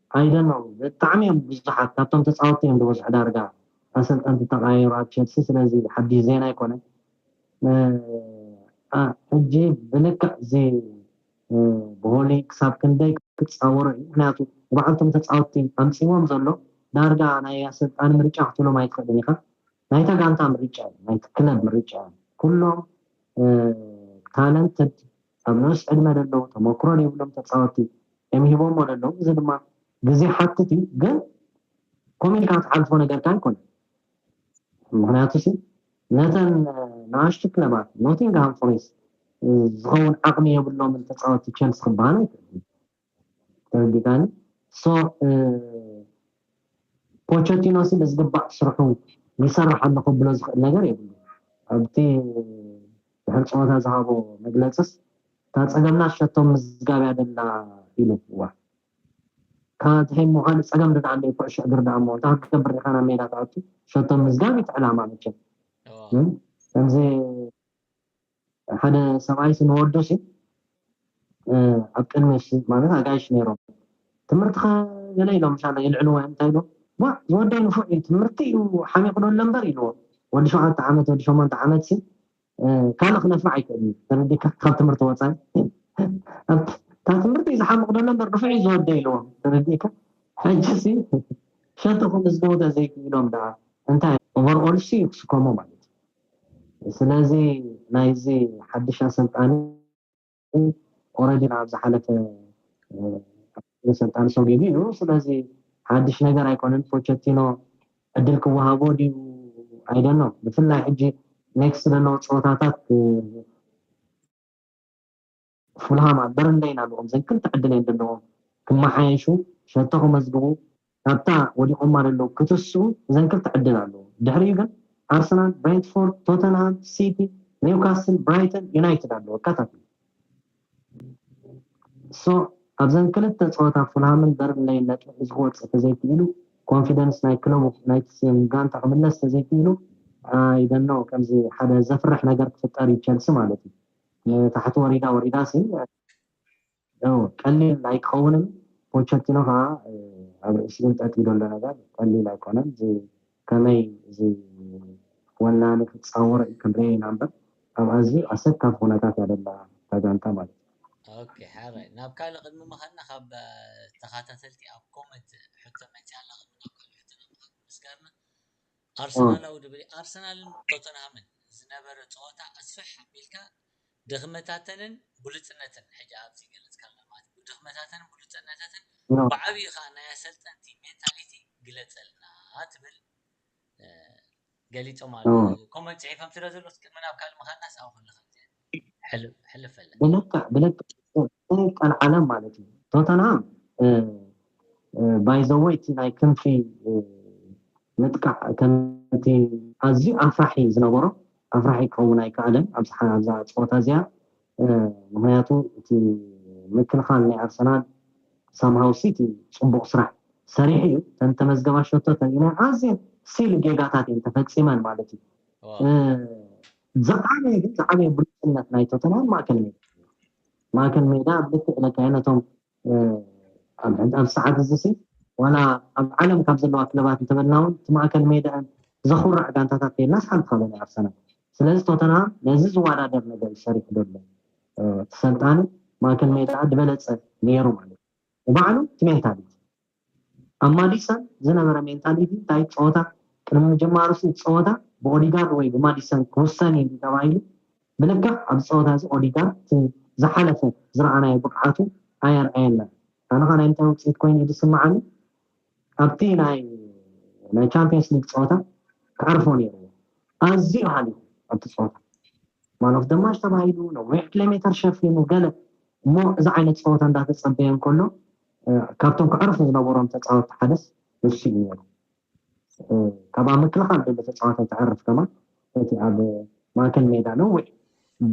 Speaker 2: I don't know ብጣዕሚ እዮም ብዙሓት ካብቶም ተጻወትቲ እዮም ዝበዝሑ ዳርጋ ኣሰልጠንቲ ተቀያይሩ ኣብ ቸልሲ ስለዚ ሓድሽ ዜና ኣይኮነን ን ሕጂ ብልክዕ እዚ ቦሊ ክሳብ ክንደይ ክጻወሮ እዩ ምክንያቱ ንባዕልቶም ተጻወትቲ ኣምጺዎም ዘሎ ዳርጋ ናይ ኣሰልጣኒ ምርጫ ክትብሎም ኣይትክእልን ኢካ ናይታ ጋንታ ምርጫ እዩ ናይቲ ክለብ ምርጫ እዩ ኩሎም ታለንትድ ኣብ ንኡስ ዕድመ ለለዉ ተመክሮ ለይብሎም ተጻወቲ እም ሂቦሞ ለለዉ እዚ ድማ ግዜ ይሓትት እዩ ግን ኮም ኢልካ ትሓልፎ ነገርካ ኣይኮነን ምክንያቱ ሲ ነተን ንኣሽቱ ክለባት ኖቲንግሃም ፎሬስት ዝኸውን ዓቕሚ የብሎምን ተፃወቲ ቸልሲ ክበሃል ኣይክእልን ተረዲእካኒ so ፖቸቲኖ ሲ ብዝግባእ ስርሑ ይሰርሕ ኣሎ ከብሎ ዝኽእል ነገር የብሉን ኣብቲ ድሕሪ ፀወታ ዝሃቦ መግለፅስ እታ ፀገምና ሸቶ ምዝጋብ እያ ዘላ ኢሉ እዋእ ካብ እቲ ሕሞ ካልእ ፀገም ድኣ ኣለዩ ኩዕሾ እግሪ ድኣ እሞ እንታይ ክትገብር ዲኻ ናብ ሜዳ ትኣቱ ሸቶ ምዝጋብ እዩ እቲ ዕላማ መቸም ከምዚ ሓደ ሰብኣይሲ ንወዱሲ ኣብ ቅድሚሲ ማለት ኣጋይሽ ነይሮም ትምህርትኻ ገለ ኢሎም ሻለ የልዕልዎ እዮም እንታይ ኢሎም ዋእ ዝወደይ ንፉዕ እዩ ትምህርቲ እዩ ሓሚቑ ዶ ኣለምበር ኢልዎ ወዲ ሸውዓተ ዓመት ወዲ ሸሞንተ ዓመትሲ ካልእ ክነፍዕ ኣይክእልን እዩ ተረዲካ ካብ ትምህርቲ ወፃኢ ኣብቲ ካብ ትምህርቲ እዩ ዝሓምቕ ዶ ኣለምበር ንፉዕ እዩ ዝወደይ ኢልዎም ተረዲካ ሕጂሲ ሸትኹም ዝገውደ ዘይክኢሎም ደኣ እንታይ ኦቨርኦልሲ ክስከሞ ማለት ስለዚ ናይዚ ሓድሽ ኣሰልጣኒ ኦረዲ ናብ ዝሓለፈ ኣሰልጣኒ ሰጉጉ እዩ። ስለዚ ሓድሽ ነገር ኣይኮነን። ፖቸቲኖ ዕድል ክወሃቦ ድዩ ኣይደኖ ብፍላይ ሕጂ ኔክስት ዘለዉ ፀወታታት ፉልሃም ኣብ በርንለይን ኣሎዎም ዘን ክልተ ዕድል እየን ደለዎም ክመሓየሹ ሸቶ ከመዝግቡ ካብታ ወዲቆማ ደለዉ ክትስኡ እዘን ክልተ ዕድል ኣሎዎም ድሕሪኡ ግን ኣርሰናል ብሬንትፎርድ ቶተንሃም ሲቲ ኒውካስል ብራይተን ዩናይትድ ኣሎዎ ቀታትል ሶ ኣብዘን ክልተ ጸወታ ፉልሃምን በርንለይን ነጥቢ ሒዙ ክወጽእ ተዘይኪኢሉ ኮንፊደንስ ናይ ክለቡ ናይቲ ስም ጋንታ ክምለስ ተዘይኪኢሉ ኣይ ዶንት ኖው ከምዚ ሓደ ዘፍርሕ ነገር ክፍጠር እዩ ቸልሲ ማለት እዩ ንታሕቲ ወሪዳ ወሪዳሲ ን ቀሊል ኣይክኸውንን ፖቸቲኖ ከኣ ኣብ ርእሲ እንጠጢ ደሎ ነገር ቀሊል ኣይኮነን እዚ ከመይ እዚ ወናኒ ክጻወሮ እዩ ክንሪኦ ኢና እምበር ኣብ ኣዝዩ ኣሰካፊ ኩነታት እያ ደላ እታ ጋንታ ማለት እዩ። ኦኬ
Speaker 1: ሐራይ ናብ ካልእ ቅድሚ ምኻድና ካብ ተኻታተልቲ ኣብ ኮመንት ሕቶ መጺኣላ ቅድሚ ናብ ካልእ ሕቶ ናብ ምኻድ ምስጋርና ኣርሰናላዊ ድበይ ኣርሰናልን ቶተንሃምን ዝነበረ ጸወታ ኣስፍሕ ኣቢልካ ድኽመታተንን ብሉጽነትን ሕጂ ኣብዚ ገለጽካ ኣለና ማለት እዩ ድኽመታተንን ብሉጽነተትን ብዓቢኡ ከኣ ናይ ኣሰልጠንቲ ሜንታሊቲ ግለጸልና ትብል ገሊጾም ኣለዉ ኮመንት ጽሒፎም ስለ ዘለዉ ቅድሚ ናብ ካልእ ምኻድናስ ኣብኡ ከለኻ ብልክዕ ብልክዕ ናይ
Speaker 2: ቀልዓለም ማለት እዩ ቶተንሃም ባይዘወይ እቲ ናይ ክንፊ ምጥቃዕ ከምቲ ኣዝዩ ኣፍራሒ ዝነበሮ ኣፍራሒ ክኸውን ኣይከኣለን ኣብዝሓ ኣብዛ ጸወታ እዚኣ ምክንያቱ እቲ ምክልኻል ናይ ኣርሰናል ሳምሃው ሲቲ ጽቡቕ ስራሕ ሰሪሑ እዩ ተን ተመዝገባ ሸቶተን ኣዝየን ሲሊ ጌጋታት እየን ተፈጺመን ማለት እዩ ዝዓበየ ግን ዝዓበየ ብሉጽነት ናይ ቶተንሃም ማእከል ሜዳ ማእከል ሜዳ ኣብ ልክዕ ለካየ ነቶም ኣብ ሰዓት እዚ ሲ ዋላ ኣብ ዓለም ካብ ዘለዋ ክለባት እንተበልና እውን እቲ ማእከል ሜዳን ዘኹርዕ ጋንታታት ከይናስ ሓንቲ ካበ ናይ ኣርሰናል ስለዚ ቶተንሃም ነዚ ዝወዳደር ነገር እዩ ሰሪሑ ደሎ እቲ ሰልጣኒ ማእከል ሜዳ ዝበለጸ ነይሩ ማለት እዩ ባዕሉ እቲ ሜንታሊቲ ኣብ ማዲሰን ዝነበረ ሜንታሊቲ እንታይ ጸወታ ቅድሚ ምጅማሩ'ሲ እቲ ጸወታ ብኦዲጋርድ ወይ ብማዲሰን ክውሰን እዩ ተባሂሉ ብልክዕ ኣብዚ ጸወታ'ዚ ኦዲጋርድ እቲ ዝሓለፈ ዝረኣናዮ ብቕዓቱ ኣየርኣየናን ኣነ'ኸ ናይ ምንታይ ውጽኢት ኮይኑ እዩ ዝስምዓኒ ኣብቲ ናይ ቻምፕዮንስ ሊግ ጸወታ ክዓርፎ ነይርዎ ኣዝዩ ሃሊኹ ኣብቲ ጸወታ ማን ኦፍ ደማሽ ተባሂሉ ነዊሕ ኪሎሜተር ሸፊኑ ገለ እሞ እዚ ዓይነት ጸወታ እንዳተጸበየ እንከሎ ካብቶም ከዕርፉ ዝነበሮም ተጻወትቲ ሓደስ እሱ እዩ ነይሩ። ካብ ኣብ ምክልኻል ዘሎ ተጻዋታይ ተዕርፍ ከማን እቲ ኣብ ማእከል ሜዳ ነዊሕ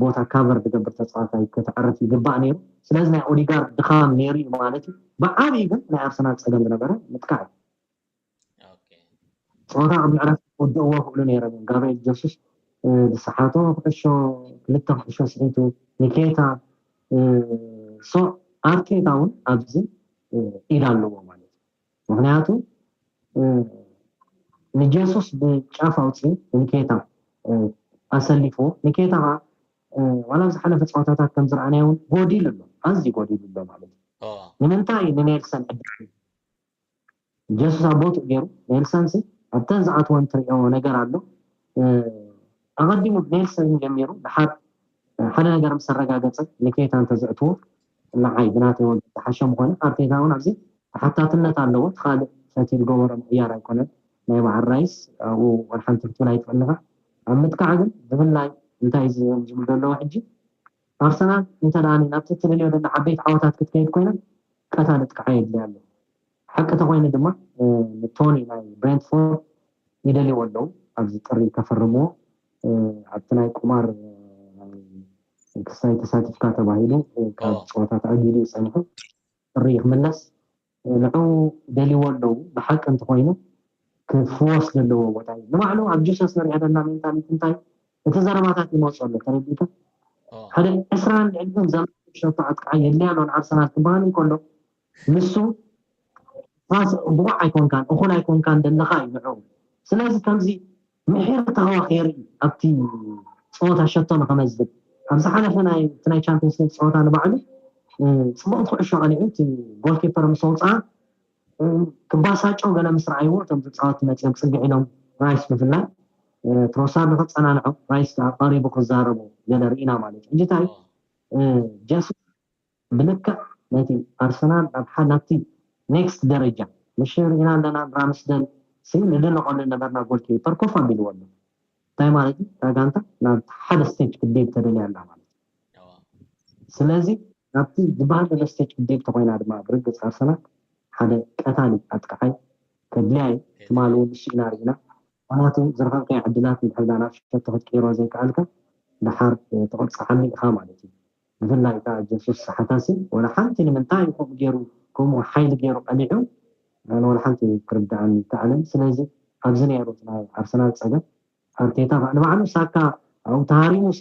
Speaker 2: ቦታ ካቨር ዝገብር ተጻዋታይ ከተዕርፍ ይግባእ ነይሩ። ስለዚ ናይ ኦዲጋርድ ድኻም ነይሩ ማለት እዩ። ብዓብዪ ግን ናይ ኣርሰናል ጸገም ዝነበረ ምጥቃዕ እዩ። ጾራ ኣብ ምዕራፍ ክውድእዎ ይኽእሉ ነይሮም እዮም፣ ጋብርኤል ጀሱስ ዝሰሓቶ ኩዕሾ፣ ክልተ ኩዕሾ ስሒቱ፣ ንኬይታ ሶ ኣርቴታ እውን ኣብዚ ኢድ ኣለዎ ማለት እዩ፣ ምኽንያቱ ንጀሱስ ብጫፍ ኣውጺኡ ንኬይታ ኣሰሊፍዎ፣ ንኬይታ ከኣ ዋላ ኣብ ዝሓለፈ ጸወታታት ከም ዝረኣናዮ እውን ጎዲሉ ኣሎ፣ ኣዝዩ ጎዲሉ ኣሎ ማለት እዩ፣ ንምንታይ ንኔልሰን ዕድል ጀሱስ ኣብ ቦትኡ ጌሩ ኔልሰን ሲ ኣብተን ዝኣትወን ትርእዮ ነገር ኣሎ ኣቀዲሙ ብኔልሰን እዩ ጀሚሩ ድሓር ሓደ ነገር ምስ ኣረጋገጸ ንኬታ እንተ ዘእትዎ ንዓይ ብናተይ ወገን ዝሓሸ ምኾነ ኣርቴታ እውን ኣብዚ ተሓታትነት ኣለዎ እቲ ካልእ ፈትዩ ዝገበሮ ምቕያር ኣይኮነን ናይ በዓል ራይስ ኣብኡ ወልሓንቲ ክትብል ኣይትኽእል ኢኻ ኣብ ምጥቃዕ ግን ብፍላይ እንታይ ዝብል ዘለዎ ሕጂ ኣርሰናል እንተ ደኣኒ ናብቲ እትደልዮ ደላ ዓበይቲ ዓወታት ክትከይድ ኮይና ቀታሊ ጥቅዓ የድልያ ኣሎ። ሓቂ ተኾይኑ ድማ ንቶኒ ናይ ብሬንትፎርድ ይደልይዎ ኣለዉ። ኣብዚ ጥሪ ከፈርምዎ ኣብቲ ናይ ቁማር ክሳይ ተሳቲፍካ ተባሂሉ ካብ ጸወታ ተኣጊዱ እዩ ጸኒሑ። ጥሪ ክምለስ ንዑኡ ደልይዎ ኣለዉ ብሓቂ እንተኾይኑ ክፍወስ ዘለዎ ቦታ እዩ ንባዕሉ ኣብ ጂሰስ ንሪኣ ዘለና ሜንታሊቲ እንታይ እቲ ዘረባታት ይመጾ ኣሎ ተረዲእካ ሓደ ዕስራን ልዕሊኡን ዘመን ሸቶ ኣጥቃዓይ የድልያ ኣሎ ንኣርሰናል ክበሃል እንከሎ ንሱ ብቑዕ ኣይኮንካን እኹል ኣይኮንካን ደለኻ እዩ ንዑ ስለዚ ከምዚ ምሒር ተዋኺር ኣብቲ ጸወታ ሸቶ ንኸመዝግብ ኣብ ዝሓለፈ ናይ እቲ ናይ ቻምፕዮንስ ሊግ ጸወታ ንባዕሉ ጽቡቕቲ ኩዕሾ ቀሊዑ እቲ ጎል ኪፐር ምስ ኣውጽኣ ክባሳጨው ገለ ምስ ረኣይዎ እቶም ተጻወቲ መጺኦም ጽግዕ ኢሎም ራይስ ብፍላይ ትሮሳርድ ክጸናንዖ ራይስ ከዓ ቀሪቡ ክዛረቡ ገለ ርኢና ማለት እዩ ሕጂ እንታይ ጀሱ ብልክዕ ነቲ ኣርሰናል ናብ ናብቲ ኔክስት ደረጃ ንሽር ኢና ኣለና ንራምስደል ሲ ንድነቐሉ ዝነበርና ጎል ኪፐር ኮፍ ኣቢልዎ ኣሎ እንታይ ማለት እዩ እታ ጋንታ ናብ ሓደ ስቴጅ ክትድይብ ተደልያ ኣላ ማለት እዩ ስለዚ ናብቲ ዝበሃል ዘሎ ስቴጅ ክትድይብ ተኾይና ድማ ብርግጽ ኣርሰናል ሓደ ቀታሊ ኣጥቃዓይ ከድልያ እዩ ትማሊ እውን ንሱ ኢና ርኢና ምክንያቱ ዝረኸብካዮ ዕድላት እንድሕር ናብ ሸቶ ክትቅይሮ ዘይከኣልካ ደሓር ትቕጽዓሉ ኢኻ ማለት እዩ ብፍላይ ከኣ ጀሱስ ሰሓታሲ ወላ ሓንቲ ንምንታይ እዩ ከምኡ ጌሩ ከምኡ ሓይሊ ጌሩ ቀኒዑ ኣነ ወላ ሓንቲ ክርድኣኒ ኣይከኣለን ስለዚ ኣብዚ ኔሩ እቲ ናይ ኣርሰናል ጸገም ኣርቴታ ከኣ ንባዕሉ ሳካ ኣብኡ ተሃሪሙሲ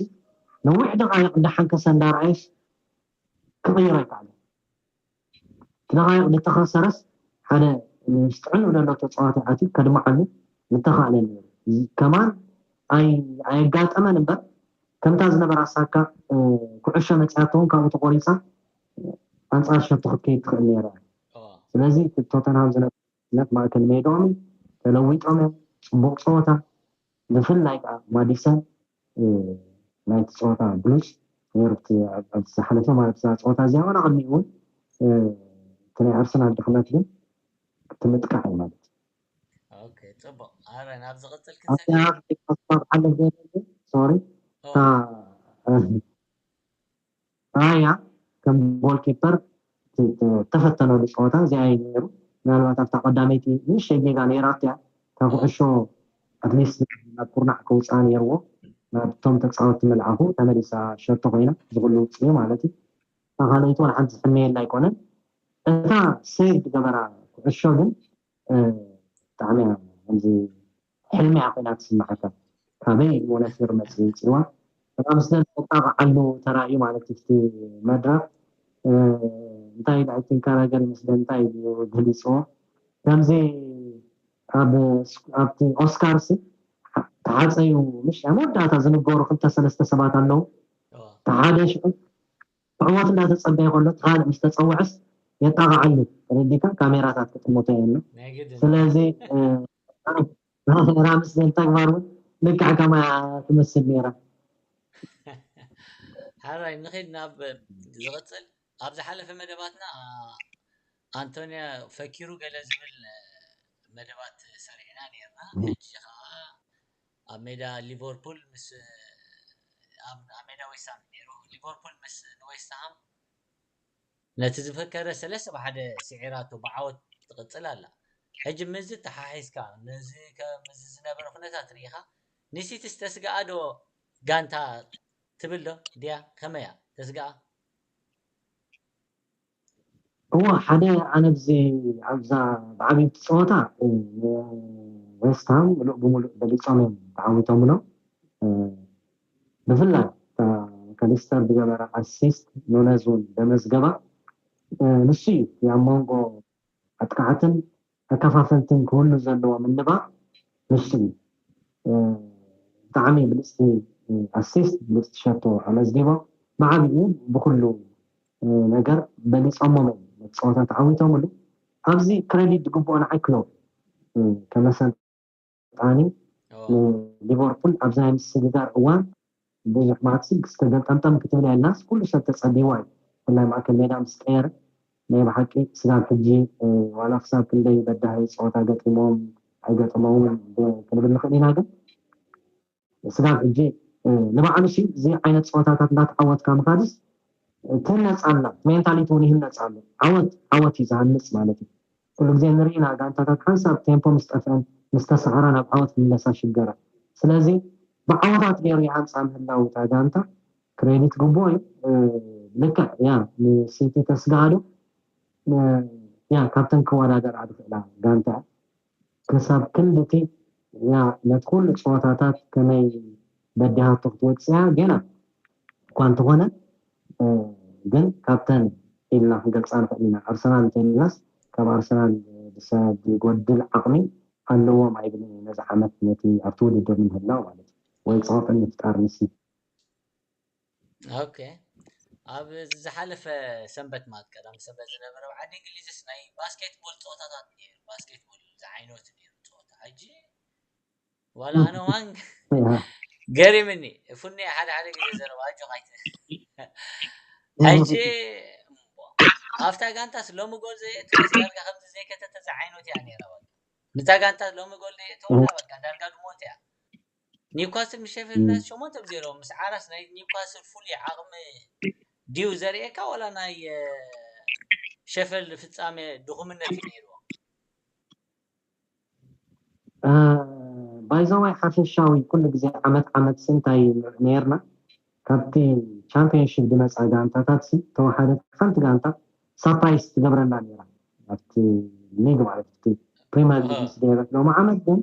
Speaker 2: ነዊሕ ደቓይቕ እንዳሓንከሰ እንዳርኣየስ ክቕይሮ ኣይከኣለን። ትነቓይቕ ድተኸሰረስ ሓደ ምስ ጥዕንኡ ደሎ ተጻዋታይ ኣትዩ ከድምዓሉ ምተኻእለ ነይሩ እዚ ከማን ኣይ ኣየጋጠመን እምበር ከምታ ዝነበራ ሳካ ኩዕሾ መጺኣቶውን ካብኡ ተቖሪጻ ኣንጻር ሸቶ ክትከይድ ትኽእል ነይራ ስለዚ ቶተንሃም ዝነበ ነቲ ማእከል ሜድኦም ተለዊጦም እዮም ጽቡቅ ጸወታ ብፍላይ ከኣ ማዲሰን ናይቲ ጸወታ ብሉጽ ነይሩ ኣብቲ ኣብቲ ዝሓለፈ ማለት እዛ ጸወታ እዚኣ ዋላ ቅድሚኡ እውን እቲ ናይ ኣርሰናል ድኽመት ግን እቲ ምጥቃዕ እዩ ማለት ኦኬ
Speaker 1: ጽቡቅ ኣረ ናብ ዝቅጽል ክንሰግር
Speaker 2: ሓለፍ ዘይደሊ ሶሪ ራያ ከም ጎልኪፐር ዝተፈተነሉ ጸወታ እዚኣ እዩ ነይሩ። ምናልባት ኣብታ ቀዳመይቲ ንእሽተይ ጌጋ ነይራቶ እያ። እታ ኩዕሾ ኣትሊስት ናብ ኩርናዕ ከውጽኣ ነይርዎ። ናብቶም ተጻወቲ ምልኣኹ ተመሊሳ ሸቶ ኮይና እዚ ኩሉ ኣውጺኡ ማለት እዩ። እታ ካልኣይቲ ዋላ ሓንቲ ዝሕመየላ ኣይኮነን። እታ ሴቭ ዝገበራ ኩዕሾ ግን ብጣዕሚ እያ ከምዚ ሕልሚ እያ ኮይና ትስመዓካ ካበይ ሞነፊር መጽዩ ጽልዋ ሕማም ስለ ዘጣቅዓሉ ተራእዩ ማለት እዩ እቲ መድረክ እንታይ ኢሉ ኣይ ቲንክ ኣረገል ምስ ደንታይ ኢሉ ገሊጽዎ ከምዚ ኣብ ኣብቲ ኦስካርስ ተሓጸዩ ምሽ ኣብ መወዳእታ ዝንገሩ ክልተ ሰለስተ ሰባት ኣለዉ እቲ ሓደ ሽዑ ዕወት እንዳተጸበየ ከሎ እቲ ካልእ ምስ ተጸወዐስ የጣቅዓሉ ተረዲካ ካሜራታት ክጥምቶ እየ እሞ ስለዚ ራምስ ዘን ተግባር እውን ልክዕ ከማ ትመስል
Speaker 1: ነይራ ሓራይ ንኸድ ናብ ዝቕፅል ኣብ ዝሓለፈ መደባትና ኣንቶንያ ፈኪሩ ገለ ዝብል መደባት ሰሪዕና ነርና ሕጂ ከዓ ኣብ ሜዳ ሊቨርፑል ምስ ኣብ ሜዳ ዌስትሃም ነይሩ ሊቨርፑል ምስ ንዌስትሃም ነቲ ዝፈከረ ሰለስተ ብሓደ ሲዒራቶ ብዓወት ትቅጽል ኣላ። ሕጂ ምስዚ ኣተሓሒዝካ ነዚ ከምዚ ዝነበረ ኩነታት ርኢኻ ንሲቲስ ተስግኣ ዶ ጋንታ ትብል ድያ ከመይ እያ ተስግኣ?
Speaker 2: እወ ሓደ ኣነ ኣብዚ ኣብዛ ብዓቢይቲ ጸወታ ንዌስትሃም ምሉእ ብምሉእ በሊጾም እዮም ተዓዊቶምሎም። ብፍላይ እታ ማካሊስተር ዝገበራ ኣሲስት ኑነዝ ውን ዘመዝገባ ንሱ ዩ። እቲ ኣብ ሞንጎ ኣጥቃዕትን ተከፋፈልትን ክህሉ ዘለዎ ምንባር ንሱ ዩ። ብጣዕሚ ብልጽቲ ኣሲስት ብልጽቲ ሸቶ ኣመዝጊቦም ብዓቢኡ ብኹሉ ነገር በሊጾሞም እዮም ነቲ ጸወታ ተዓዊቶምሉ ኣብዚ ክረዲት ዝግብኦ ንዓይ ክሎፕ ከመሰ ዳኒ ንሊቨርፑል ኣብዛ ናይ ምስግጋር እዋን ብዙሕ ማክሲ ክስተ ገልጠምጠም ክትብል እያ ኢልናስ ኩሉ ሰብ ተጸቢዋ እዩ ብፍላይ ማእከል ሜዳ ምስ ቀየረ ናይ ብሓቂ ስጋብ ሕጂ ዋላ ክሳብ ክንደይ በዳሂ ጸወታ ገጢሞም ኣይገጠሞምን ክንብል ንኽእል ኢና ግን ስጋብ ሕጂ ንባዕሉሲ እዚ ዓይነት ጸወታታት እንዳተዓወትካ ምኻድስ ትህነጽ ኣላ እቲ ሜንታሊቲ ውን ይህነጽ ኣሎ ዓወት ዓወት እዩ ዝሃንጽ ማለት እዩ ኩሉ ግዜ ንርኢ ኢና ጋንታታት ሓንሳብ ቴምፖ ምስ ጠፍኤን ምስ ተሳዓራ ናብ ዓወት ክምለሳ ይሽገራ ስለዚ ብዓወታት ጌሩ ይሃንጻ ምህላው እታ ጋንታ ክሬዲት ግቡኦ እዩ ልክዕ ያ ንሲቲ ተስግኣ ዶ ያ ካብተን ክወዳደራ ዝኽእላ ጋንታ እያ ክሳብ ክንድቲ እያ ነቲ ኩሉ ጸወታታት ከመይ በዲሃቶ ክትወጽእያ ጌና እኳ እንተኾነ ግን ካብተን ኢልና ክንገልጻ ንኽእል ኢና ኣርሰናል እንተኢልናስ ካብ ኣርሰናል ዝጎድል ዓቕሚ ኣለዎም ኣይብልን እየ ነዚ ዓመት ነቲ ኣብቲ ውድድር ንምህላው ማለት እዩ ወይ ጸቕጢ ንምፍጣር ንሲቲ
Speaker 1: ኦኬ ኣብ ዝሓለፈ ሰንበት ማለት ቀዳም ሰንበት ዝነበረ ኣብ ዓዲ እንግሊዝስ ናይ ባስኬት ቦል ፀወታታት ነይሩ ባስኬት ቦል ዝዓይነቱ ነይሩ ፀወታ ሕጂ ዋላ ኣነ ዋን ገሪምኒ ፉኒ ሓደ ሓደ ግዜ ዘረባ ኣጆኻ ሕጂ ኣብታ ጋንታስ ሎሚ ጎል ዘየእተወስ ዳርጋ ከምዚ ዘይከተተ ዝዓይነቱ እያ ነይራ በቃ ንታ ጋንታ ሎሚ ጎል ዘየእተወላ በቃ ዳርጋ ድሞት እያ ኒውካስል ምስ ሼፊልድ ዩናይትድ ሸሞንተ ብ ዜሮ ምስዓራስ ናይ ኒውካስል ፍሉይ ዓቕሚ ድዩ ዘርእየካ ዋላ ናይ ሸፊልድ ፍጻመ ድኹምነት እዩ ነይርዎ?
Speaker 2: ባይዘወይ ሓፈሻዊ ኩሉ ግዜ ዓመት ዓመትሲ እንታይ ነይርና ካብቲ ቻምፕዮንሺፕ ዝመጻ ጋንታታትሲ ተወሓደት ሓንቲ ጋንታ ሳፕራይስ ትገብረና ነይራ ኣብቲ ሊግ ማለት እቲ ፕሪምየር ሊግ ምስ ደየበት ሎሚ ዓመት ግን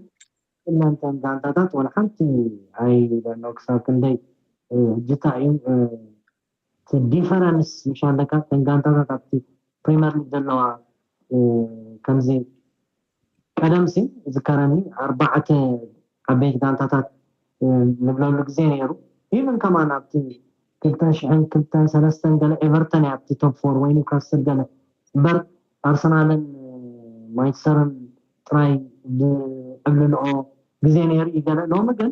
Speaker 2: ኩለን እተን ጋንታታት ዋላ ሓንቲ ኣይብለኖ ክሳብ ክንደይ ጅታ እዩ እቲ ዲፈረንስ ምሽ ኣለካ እተን ጋንታታት ኣብቲ ፕሪመር ሊግ ዘለዋ ከምዚ ቀደምሲ ዝከረኒ ኣርባዕተ ዓበይት ጋንታታት ንብለሉ ግዜ ነይሩ ኢቨን ከማን ኣብቲ ክልተ ሽሕን ክልተን ሰለስተን ገለ ኤቨርተን እያ ኣብቲ ቶፕ ፎር ወይ ኒውካስል ገለ እምበር ኣርሰናልን ማንቸስተርን ጥራይ ዝዕብልልኦ ግዜ ነይሩ እዩ ገለ ሎሚ ግን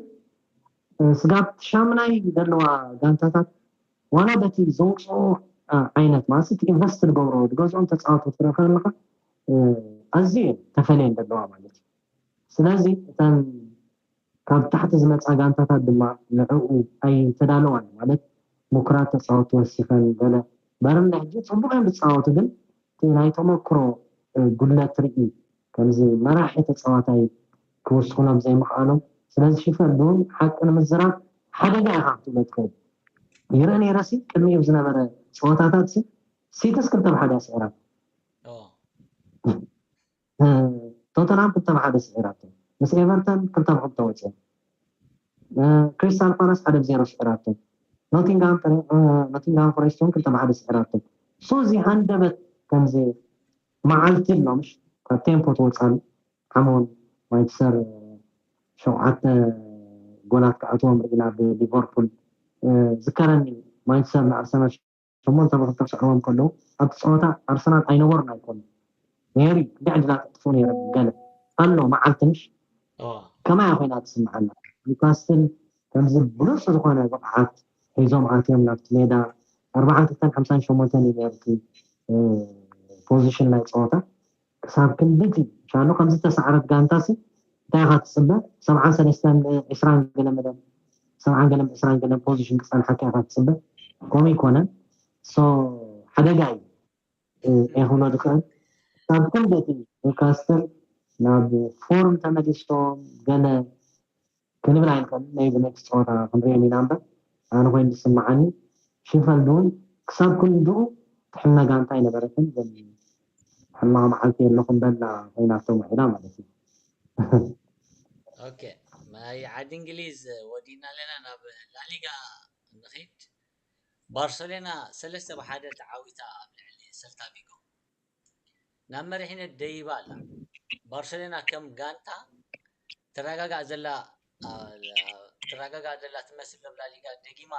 Speaker 2: ስጋብ ትሻምናይ ዘለዋ ጋንታታት ዋላ በቲ ዘውፅኦ ዓይነት ማለት እቲ ኢንቨስት ዝገብሮ ዝገዝኦም ተፃወቲ ትረክብ ኣለካ ኣዝዩ ተፈልየን ዘለዋ ማለት እዩ ስለዚ እተን ካብ ታሕቲ ዝመጻ ጋንታታት ድማ ንዕኡ ኣይተዳለዋን ብማለት ሙኩራት ተጻወቲ ወሲኸን ገለ በርንሊ ሕጂ ጽቡቕ እዮም ዝጻወቱ ግን እቲ ናይ ተመኩሮ ጉድለት ሪኢ ከምዚ መራሒ ተጻዋታይ ክውስኹሎም ዘይምኽኣሎም ስለዚ ሽፈን ቡን ሓቂ ንምዝራብ ሓደጋ ኢኻ ክትብሎ ትኽእል ይርኢ ነይረሲ ቅድሚኡ ብዝነበረ ጸወታታትሲ ሲቲስ ክልተ ብ ሓደ እያ ስዒራቶ። ቶተንሃም ክልተ ብ ሓደ ስዒራቶ ምስ ኤቨርተን ክልተ ብ ክልተ ወጺኦም ክሪስታል ፓላስ ሓደ ብ ዜሮ ስዒራቶ ኖቲንግሃም ፎሬስት ውን ክልተ ብ ሓደ ስዒራቶ ሶ እዚ ሃንደበት ከምዚ መዓልቲ ኣሎ ምሽ ካብ ቴምፖ ትወጻሉ ሓመውን ዋይት ሰር ሸውዓተ ጎላት ክኣትዎም ርኢና ብሊቨርፑል ዝከረኒ ማንቸስተር ንኣርሰናል ሸሞንተ ብ ክልተ ክስዕሮም ከለዉ ኣብቲ ጸወታ ኣርሰናል ኣይነበሩን ኣይኮኑን ኔሩ ክንደይ ዕድላት ኣጥፍኡ ኔሮም ገለ ኣሎ መዓልቲ ምሽ ከማይ እያ ኮይና ትስምዓና ኒውካስትል ከምዚ ብሉጽ ዝኾነ ብቕዓት ሒዞም ኣትዮም ናብቲ ሜዳ ኣርብዓን ክልተን ሓምሳን ሸሞንተን እዩ ኔሩ እቲ ፖዚሽን ናይ ጸወታ ክሳብ ክንድዚ ሻኑ ከም ዝተሳዕረት ጋንታሲ እንታይ ኢኻ ትጽበ ሰብዓን ሰለስተን ዕስራን ገለ መደብ ሰብዓን ገለን ዕስራን ገለን ፖዚሽን ክጸንሓካ ኢኻ ትጽበ ከምኡ ኣይኮነን ሶ ሓደጋ እዩ እየ ክብሎ ዝኽእል ክሳብ ክንድቲ ኒውካስትል ናብ ፎርም ተመሊሶም ገለ ክንብል ኣይንኽእልን ናይ ዝመልስ ጸወታ ክንርእዮም ኢና እምበር ኣነ ኮይኑ ዝስምዓኒ ሼፈልድ ውን ክሳብ ክንድኡ ትሕመ ጋንታ ኣይነበረትን ዘን ሕማቕ መዓልቲ የለኹም በላ ኮይናቶም ውዒላ ማለት እዩ። ኦኬ
Speaker 1: ናይ ዓዲ እንግሊዝ ወዲእና ኣለና ናብ ላሊጋ ንኺድ ባርሰሎና ሰለስተ ብ ሓደ ተዓዊታ ኣብ ልዕሊ ሰልታ ቪጎ። ናብ መሪሕነት ደይባ ኣላ። ባርሰሎና ከም ጋንታ ትረጋጋእ ዘላ ትረጋጋእ ዘላ ትመስል ዶ ላሊጋ ደጊማ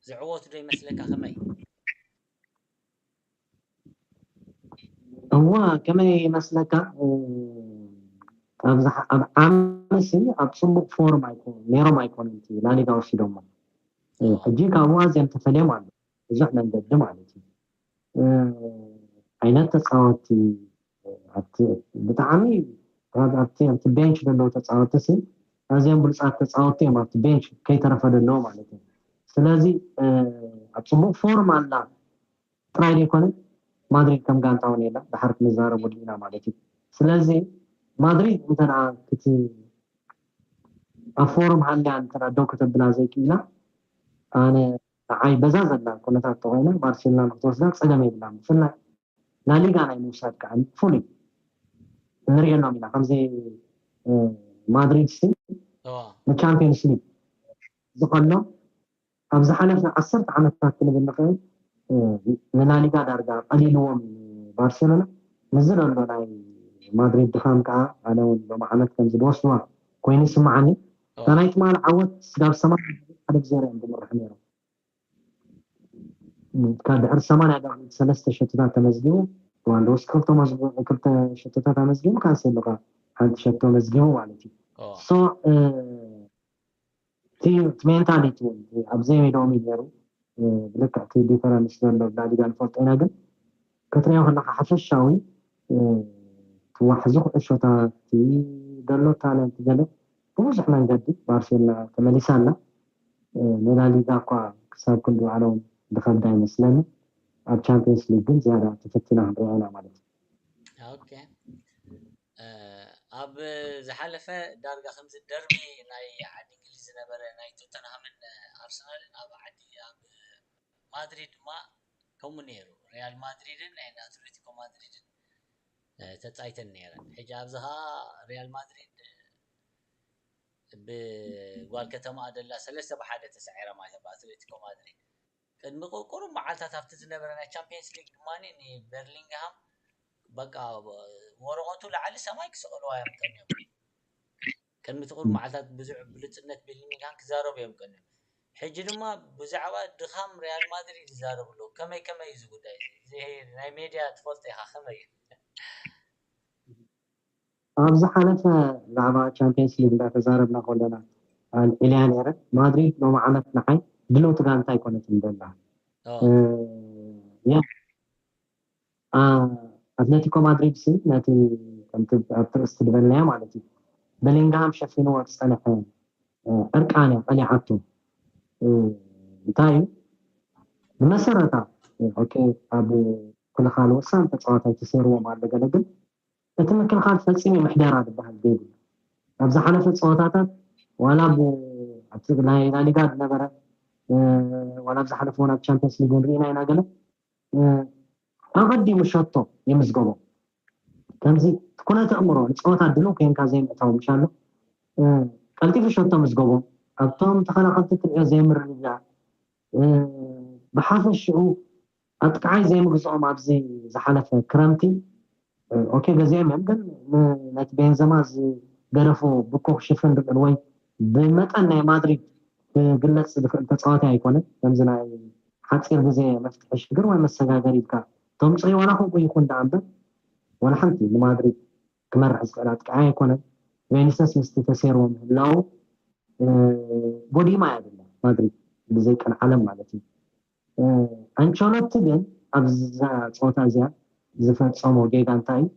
Speaker 1: ዝዕወቱ ዶ ይመስለካ ከመይ?
Speaker 2: እወ ከመይ ይመስለካ ኣብዝሓ ኣብ ዓመሲ ኣብ ጽቡቅ ፎርም ኣይኮኑ ነይሮም ኣይኮኑን እቲ ላሊጋ ወሲዶሞ ሕጂ ካብኡ ኣዝዮም ተፈልዮም ኣሎ ብዙሕ መንገዲ ማለት እዩ። ዓይነት ተጻወቲ ኣብቲ ብጣዕሚ ኣብቲ ኣብቲ ቤንች ዘለዉ ተጻወቲ ሲ ኣዝዮም ብሉጻት ተጻወቲ እዮም ኣብቲ ቤንች ከይተረፈ ዘለዉ ማለት እዩ ስለዚ ኣብ ጽቡቅ ፎርም ኣላ ጥራይ ዘይኮነ ማድሪድ ከም ጋንታ እውን የላ ድሓር ክንዛረበሉ ኢና ማለት እዩ ስለዚ ማድሪድ እንተ ክቲ ኣብ ፎርም ሃልያ እንተ ደው ከተብላ ዘይክኢላ ኣነ ንዓይ በዛ ዘላ ኩነታት ተኾይና ባርሴሎና ንክትወስዳ ጸገም የብላን ብፍላይ ላሊጋ ናይ ምውሳድ ከኣ ፍሉይ ክንርእየሎም ኢና ከምዚ ማድሪድሲ ንቻምፒየንስ ሊግ ዝቐሎ ኣብ ዝሓለፈ ዓሰርተ ዓመታት ክንብል ንኽእል ንላሊጋ ዳርጋ ቀሊልዎም ባርሴሎና ምስዚ ዘሎ ናይ ማድሪድ ድኻም ከኣ ኣነ እውን ሎሚ ዓመት ከምዚ ዝወስድዋ ኮይኑ ይስምዓኒ እታ ናይ ትማሊ ዓወት ስጋብ ሰማንያ ደቂቅ ሓደ ብዜሮ እዮም ዝምርሑ ነይሮም ካብ ድሕሪ ሰማንያ ደቂቅ ሰለስተ ሸቶታት ተመዝጊቡ ሉዋንዶውስኪ ክልተ መዝጊቡ ክልተ ሸቶታት ኣመዝጊቡ ካንሴሎ ከ ሓንቲ ሸቶ መዝጊቡ ማለት እዩ ሶ እቲ ሜንታሊቲ እውን ኣብ ዘይሜዳኦም እዩ ነይሩ ብልክዕ እቲ ዲፈረንስ ዘሎ ላሊጋ ንፈልጦ ኢና ግን ክትርእዮ ከለኻ ሓፈሻዊ እቲ ዋሕዚ ኩዕሾታት እቲ ደሎ ታለንት ገለ ብብዙሕ መንገዲ ባርሴሎና ተመሊሳ ኣላ ንላሊጋ እኳ ክሳብ ክንዲ ባዕሎም ዝኸብዳ ይመስለኒ ኣብ ቻምፕዮንስ ሊግ ግን ዝያዳ ተፈቲና ክንሪኣ ኢና ማለት እዩ። ኦኬ
Speaker 1: ኣብ ዝሓለፈ ዳርጋ ከምዚ ደርቢ ናይ ዓዲ እንግሊዝ ዝነበረ ናይ ቶተንሃምን ኣርሰናልን ኣብ ዓዲ ኣብ ማድሪድ ድማ ከምኡ ኔሩ ሪያል ማድሪድን ናይ ኣትለቲኮ ማድሪድን ተጻይተን ኔረን ሕጂ ኣብዚ ከኣ ሪያል ማድሪድ ብጓል ከተማኣ ደላ ሰለስተ ብ ሓደ ተሳዒራ ማለት እያ ብ ኣትለቲኮ ማድሪድ። ቅድሚ ቁሩብ መዓልታት ኣብቲ ዝነበረ ናይ ቻምፕየንስ ሊግ ድማ ንበርሊንግሃም በቃ ወረቐቱ ላዕሊ ሰማይ ክስቕልዋ እዮም ቀንዮም። ቅድሚ እቲ ቁሩብ መዓልታት ብዙሕ ብሉጽነት ቤሊንግሃም ክዛረቡ እዮም ቀንዮም። ሕጂ ድማ ብዛዕባ ድኻም ሪያል ማድሪድ ይዛረቡ ኣለዉ። ከመይ ከመይ እዩ እዚ ጉዳይ እዚ? እዚ ናይ ሜድያ ትፈልጦ ኢኻ ከመይ እዩ?
Speaker 2: ኣብ ዝሓለፈ ብዛዕባ ቻምፕየንስ ሊግ እንዳ ተዛረብና ከሎና ኣልዒለያ ኔረ። ማድሪድ ሎሚ ዓመት ንዓይ ድልውቲ ጋንታ ኣይኮነትን ዘላ። ኦህ። ያ ኣትሌቲኮ ማድሪድሲ ነቲ ከምቲ ኣብቲ ርእስቲ ዝበልናዮ ማለት እዩ በሊንግሃም ሸፊንዎ ዝጸንሐ ዕርቃን እያ ቀሊዓቶ እንታይ እዩ ብመሰረታ ኦኬ ኣብ ክልኻል ወሳኒ ተጻዋታይ ተሰይርዎም ኣሎ ገለ ግን እቲ ምክልኻል ፈጺሙ ምሕደራ ዝበሃል ዘይብሉ ኣብ ዝሓለፈ ፀወታታት ዋላ ኣብቲ ናይ ላሊጋ ዝነበረ ዋላ ኣብ ዝሓለፈ ውን ኣብ ቻምፒየንስ ሊግ ውን ርኢና ኢና ገለ ኣቐዲሙ ሸቶ ይምዝገቦ። ከምዚ እቲ ኩነት ኣእምሮ ንጸወታ ድሉው ኴንካ ዘይምእታው ምሻሉ ቀልጢፉ ሸቶ ምዝገቦ። ኣብቶም ተኸላኸልቲ እትርእዮ ዘይምርግጋእ፣ ብሓፈሽኡ ኣጥቃዓይ ዘይምግዝኦም ኣብዚ ዝሓለፈ ክረምቲ ኦኬ በዚይ መንገድ ነቲ ቤንዘማ ዝገደፎ ብኮ ክሽፍን ድቅል ወይ ብመጠን ናይ ማድሪድ ክግለጽ ዝክእል ተጻዋታይ ኣይኮነ ከምዚ ናይ ሓጺር ግዜ መፍትሒ ሽግር ወይ መሰጋገሪ ኢልካ ተምጽዮ ዋላ ከምኡ ይኩን ደኣ እምበር ዋላ ሓንቲ ንማድሪድ ክመርሕ ዝክእል ኣጥቃዓይ ኣይኮነን ቬኒሰስ ምስቲ ተሴርዎ ምህላዉ ጎዲማ እያ ዘላ ማድሪድ ብዘይ ቀልዓለም ማለት እዩ ኣንቸሎቲ ግን ኣብዛ ጸወታ እዚኣ ዝፈጸሞ ጌጋ እንታይ እዩ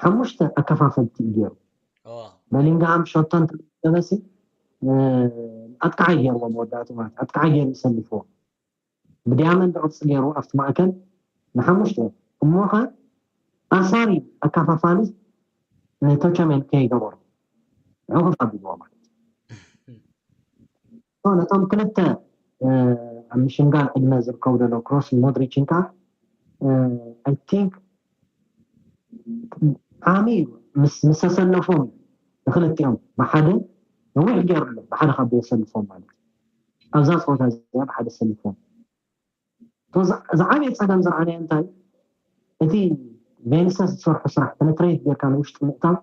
Speaker 2: ሓሙሽተ ኣከፋፈልቲ እዩ ገይሩ በሊንግሃም ሸቶ እንተመደበሲ ኣጥቃዓይ ገይርዎ መወዳእቱ ማለት ኣጥቃዓይ ገይሩ ይሰልፍዎ ብድያመንድ ቅርፂ ገይሩ ኣብቲ ማእከል ንሓሙሽተ እሞ ከ ኣሳሪ ኣካፋፋሊ ንቶቸሜን ከይገበሩ ዕቑፍ ኣቢልዎ ማለት እቶም ነቶም ክልተ ኣብ ምሽምጋል ዕድመ ዝርከቡ ዘለዉ ክሮስን ሞድሪችን ከኣ ኣይ ቲንክ ዓሚ ምስ ምሰሰለፎም ንክልቲኦም ብሓደ ነዊሕ ገይሩ ኣሎ ብሓደ ካብ ዘሰልፎም ማለት ኣብዛ ፀወታ እዚኣ ብሓደ ሰሊፎም ዝዓበየ ፀገም ዝረኣናዮ እንታይ እቲ ቬንሰስ ዝሰርሑ ስራሕ ፔነትሬት ጌርካ ንውሽጢ ምእታው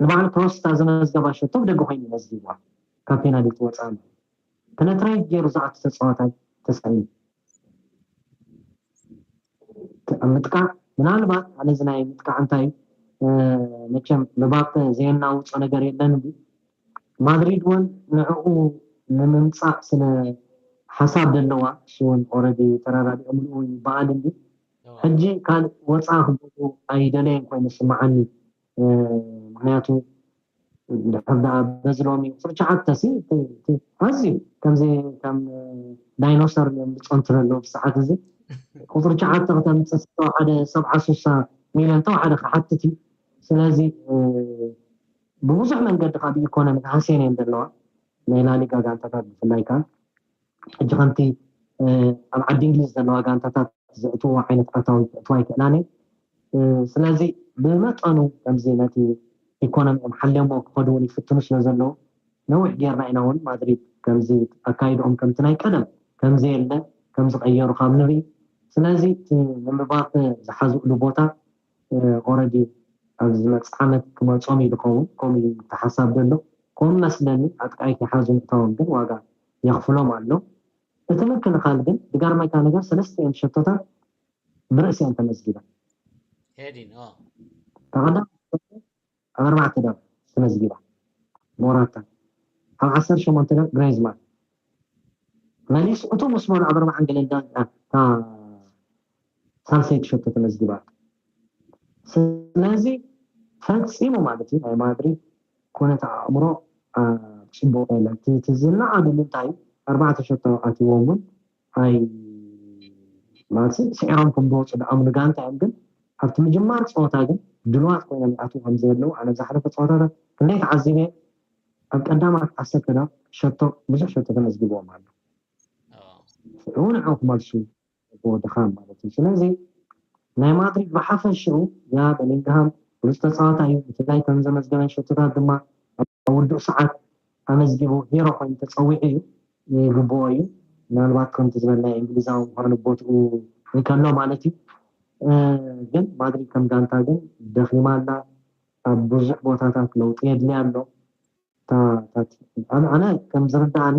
Speaker 2: ንባዕሉ ፕሮስታ ዘመዝገባ ሸቶ ብደገ ኮይኑ መዝጊብዋ ካብ ፔናልቲ ወፃኢ ኣሎ ፔነትሬት ገይሩ ዝኣቱ ተፃዋታይ ተሳኢኑ እቲ ምጥቃዕ ምናልባት ኣነ እዚ ናይ ምጥቃዕ እንታይ መቸም ምባፐ ዘየናውጾ ነገር የለን እምቢ ማድሪድ ወን ንዕኡ ንምምጻእ ስለ ሓሳብ ደለዋ እሱ ወን ኦረዲ ተራዳዲኦምሉ ውን ይባኣል እምቢ ሕጂ ካልእ ወጻ ክገብሩ ኣይደለየን ኮይኑ ዝስማዓኒ ምክንያቱ እንድሕር ደኣ በዚ ሎሚ ቁጽሪ ትሽዓተ'ሲ ኣዝዩ ከምዚ ከም ዳይኖሰር እዮም ዝጸንቱ ዘለዉ ብሰዓት እዚ ቁጽሪ ትሽዓተ ክተምጽእ ዝተወሓደ ሰብዓ ሱሳ ሚልዮን ተወሓደ ክሓትት እዩ ስለዚ ብብዙሕ መንገዲ ካብ ኢኮኖሚ ሃስየን እየን ዘለዋ ናይ ላሊጋ ጋንታታት ብፍላይ ከኣ ሕጂ ከምቲ ኣብ ዓዲ እንግሊዝ ዘለዋ ጋንታታት ዘእትውዎ ዓይነት ኣታዊ ከእትዋ ኣይክእላን እየን። ስለዚ ብመጠኑ ከምዚ ነቲ ኢኮኖሚኦም ሓልዮምዎ ክኸዱ እውን ይፍትኑ ስለ ዘለዉ ነዊሕ ጌርና ኢና እውን ማድሪድ ከምዚ ኣካይድኦም ከምቲ ናይ ቀደም ከም ዘየለ ከም ዝቐየሩ ካብ ንርኢ ስለዚ እቲ ንምባፐ ዝሓዝእሉ ቦታ ኦረዲ ኣብ ዝመጽእ ዓመት ክመጾም እዩ ዝኸውን ከምኡ እዩ እቲ ሓሳብ ዘሎ ከምኡ መስለኒ ኣጥቃይ ከይሓዙ ምእታዎም ግን ዋጋ የኽፍሎም ኣሎ። እቲ ምክልኻል ግን ብጋርማይታ ነገር ሰለስተኤን ሸቶታት ብርእሲኤን ተመዝጊበን። ሄዲን
Speaker 1: ኦ። እታ
Speaker 2: ቀዳመይቲ ሸቶ ኣብ ኣርባዕተ ዶብ ተመዝጊባ፣ ሞራታ፣ ኣብ ዓሰርተ ሸሞንተ ዶብ ግሬዝማን፣ መሊሱ እቶም ምስ በሉ ኣብ ኣርባዓን ገለን ደቒቓን እታ ሳልሰይቲ ሸቶ ተመዝጊባ ኣላ። ስለዚ ፈጺሙ ማለት እዩ ናይ ማድሪድ ኩነት ኣእምሮ ጽቡቕ ኣይኮነን። እቲ እቲ ዝነኣድ ብምንታይ እዩ ኣርባዕተ ሸቶ ኣትይዎም እውን ኣይ ማለት ስዒሮም ከም ዝወጹ ዝኣምኑ ጋንታ እዮም ግን ኣብቲ ምጅማር ጸወታ ግን ድልዋት ኮይኖም ይኣትዉ ከም ዘለዉ ኣነ ዝሓለፈ ጸወታታት ክንደይ ተዓዚበ ኣብ ቀዳማት ዓሰርተ ደቂቕ ሸቶ ብዙሕ ሸቶ ተመዝጊብዎም ኣሎ ሽዑ ንዕኡ ክመልሱ ዘለዎ ድኻም ማለት እዩ። ስለዚ ናይ ማድሪድ ብሓፈሽኡ ያ በሊንግሃም ብሉጽ ተጻዋታይ እዩ፣ ብፍላይ እተን ዘመዝገበን ሸቶታት ድማ ኣብ ውዱእ ሰዓት ኣመዝጊቡ ሂሮ ኮይኑ ተጸዊዑ እዩ። ይግብኦ እዩ ምናልባት ከምቲ ዝበልናዮ እንግሊዛዊ ምዃኑ ኣብ ቦትኡ እንከሎ ማለት እዩ። ግን ማድሪድ ከም ጋንታ ግን ደኺማ ኣላ፣ ኣብ ብዙሕ ቦታታት ለውጢ የድልያ ኣሎ። እታ ኣነ ከም ዝርድኣኒ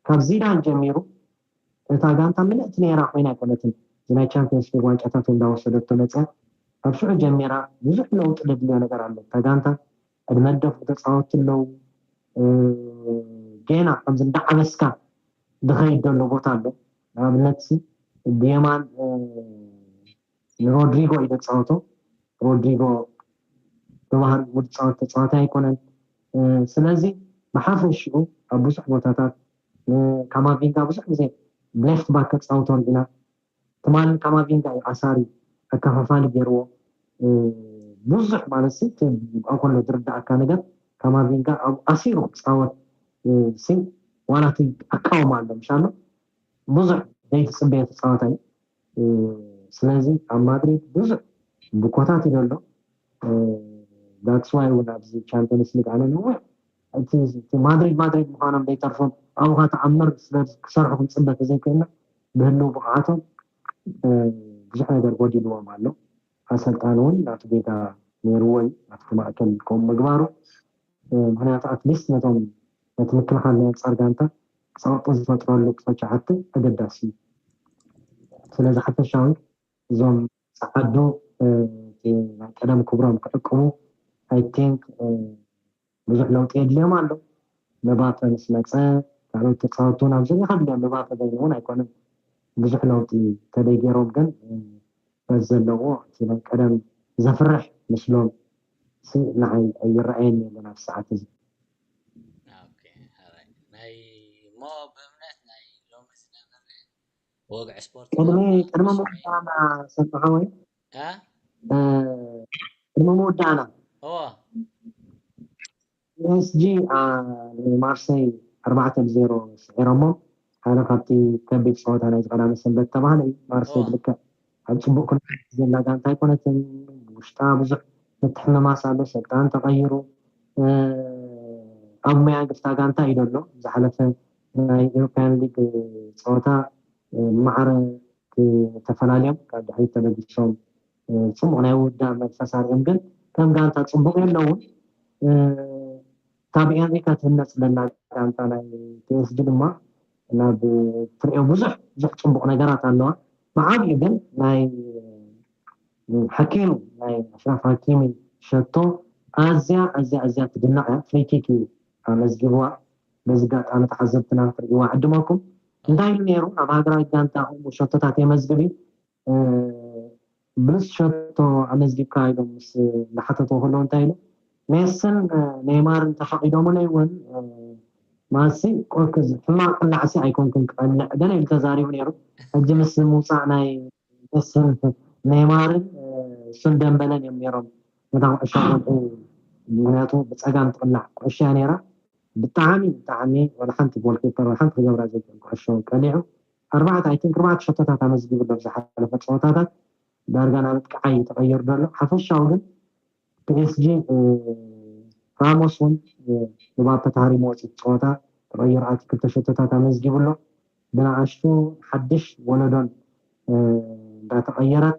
Speaker 2: ካብ ዚዳን ጀሚሩ እታ ጋንታ ምልእቲ ነይራ ኮይና ኣይኮነትን እዚ ናይ ቻምፕየንስ ሊግ ዋንጫታት እውን እንዳወሰደቶ መፅያ ካብ ሽዑ ጀሚራ ብዙሕ ለውጢ ደድልዮ ነገር ኣሎ እታ ጋንታ ዕድመ ዝደፍኡ ተፃወትቲ ኣለው ጌና ከምዚ እንዳዓበስካ ዝኸይድ ዘሎ ቦታ ኣሎ ንኣብነትሲ ብየማን ንሮድሪጎ እዩ ዘፃወቶ ሮድሪጎ ብባህሪ ውድ ፃወት ተፃዋታይ ኣይኮነን ስለዚ ብሓፈሽኡ ኣብ ብዙሕ ቦታታት ንካማቪንጋ ብዙሕ ግዜ ብሌፍት ባክ ከጻውቶ ርኢና። ትማሊ ካማቪንጋ እዩ ኣሳሪ ኣከፋፋሊ ጌርዎ። ብዙሕ ማለትሲ እቲ ኣኮሎ ዝርድኣካ ነገር ካማቪንጋ ኣብኡ ኣሲሩ ክጻወት ሲ ዋላ እቲ ኣቃውማ ኣሎ ምሽ ኣሎ ብዙሕ ዘይትጽበዮ ተጻዋታይ እዩ። ስለዚ ኣብ ማድሪድ ብዙሕ ብኮታት እዩ ዘሎ ዳትስ ዋይ እውን ኣብዚ ቻምፒየንስ ሊግ ኣነ ነዊሕ እቲ ማድሪድ ማድሪድ ምዃኖም ዘይተርፎም ኣብኻ ተኣምር ስለ ክሰርሑ ክንፅበ ተዘይክእልና ብህልው ብቕዓቶም ብዙሕ ነገር ጎዲልዎም ኣሎ ኣሰልጣኒ እውን ናቱ ጌጋ ነይርዎ እዩ ኣብቲ ማእከል ከምኡ ምግባሩ ምክንያቱ ኣትሊስት ነቶም ነቲ ምክልኻል ናይ ኣንፃር ጋንታ ጸቕጢ ዝፈጥረሉ ጸቻዕቲ ኣገዳሲ እዩ። ስለዚ ሓፈሻዊ እዞም ጸዓዱ እቲ ናይ ቀደም ክብሮም ክዕቅቡ I think ብዙሕ ለውጢ የድልዮም ኣሎ። ምባፐ ምስ መጸ ካልኦት ተጻወቲ እውን ኣብዚ እኒኻ ድልዮም ምባፐ በይኑ እውን ኣይኮነን ብዙሕ ለውጢ ተደይ ገይሮም ግን በዚ ዘለዎ እቲ ናይ ቀደም ዘፍርሕ ምስሎም ሲ ንዓይ ኣይረኣየን የለን ኣብዚ ሰዓት እዚ።
Speaker 1: ቅድሚ ምውዳእና
Speaker 2: ፒኤስጂ ንማርሰይ ኣርባዕተ ብ ዜሮ ስዒሮሞም ሓደ ካብቲ ከቢድ ፀወታ ናይዚ ቀዳመ ሰንበት ዝተብሃለ እዩ ማርሰይ ብልክዕ ኣብ ጽቡቕ ኩነታት ዘላ ጋንታ ኣይኮነትን ብውሽጣ ብዙሕ ምትሕምማስ ኣሎ ሰልጣን ተቐይሩ ኣብ ሙያ ግፍታ ጋንታ እዩ ደሎ ዝሓለፈ ናይ ኤሮፓያን ሊግ ጸወታ ማዕረ ተፈላልዮም ካብ ድሕሪት ተበጊሶም ጽቡቕ ናይ ውዳ መንፈስ ኣርዮም ግን ከም ጋንታ ጽቡቕ የለውን ካብ ኣሜሪካ ትህነጽ ዘላ ጋንታ ናይ ፒኤስጂ ድማ ናብ ትርእዮ ብዙሕ ብዙሕ ጽቡቕ ነገራት ኣለዋ። ብዓቢኡ ግን ናይ ሓኪሚ ናይ ኣሽራፍ ሃኪሚ ሸቶ ኣዝያ ኣዝያ ኣዝያ ትድነቕ እያ። ፍሪ ኪክ እዩ ኣመዝጊብዋ። በዚ ኣጋጣሚ ተዓዘብትና ክትርእይዋ እዕድመኩም። እንታይ ኢሉ ነይሩ ናብ ሃገራዊት ጋንታኹም ሸቶታት የመዝግብ እዩ። ብሉጽ ሸቶ ኣመዝጊብካ ኢሎም ምስ ዝሓተትዎ ከለዉ እንታይ ኢሉ? ሜስን ኔይማርን ተፈቒዶሙለይ እውን ማሲ ቆርክዝ ሕማቕ ቅላዕሲ ኣይኮንኩን ክቐልዕ ገለ ኢሉ ተዛሪቡ ነይሩ። ሕጂ ምስ ምውጻእ ናይ ሜስን ኔይማርን እሱን ደምበለን እዮም ነይሮም ነታ ኩዕሾ ዝቐልዑ ምኽንያቱ ብጸጋም ትቕላዕ ኩዕሾ እያ ነይራ። ብጣዕሚ ብጣዕሚ ዋላ ሓንቲ ጎልኪፐር ዋላ ሓንቲ ክገብራ ዘይክእል ኩዕሾ ቀሊዑ። ኣርባዕተ ኣይ ቲንክ ኣርባዕተ ሸቶታት ኣመዝጊቡ ኣሎ ኣብ ዝሓለፈ ጸወታታት ዳርጋ ናብ ኣጥቃዓይ እዩ ተቐይሩ ዘሎ ሓፈሻዊ ግን ፒኤስጂ ራሞስ እውን ንባፐ ተሃሪምዎ እቲ ጸወታ ተቐይሩ ኣትዩ ክልተ ሸቶታት ኣመዝጊቡ ኣሎ ብንኣሽቱ ሓድሽ ወለዶን እንዳተቐየረት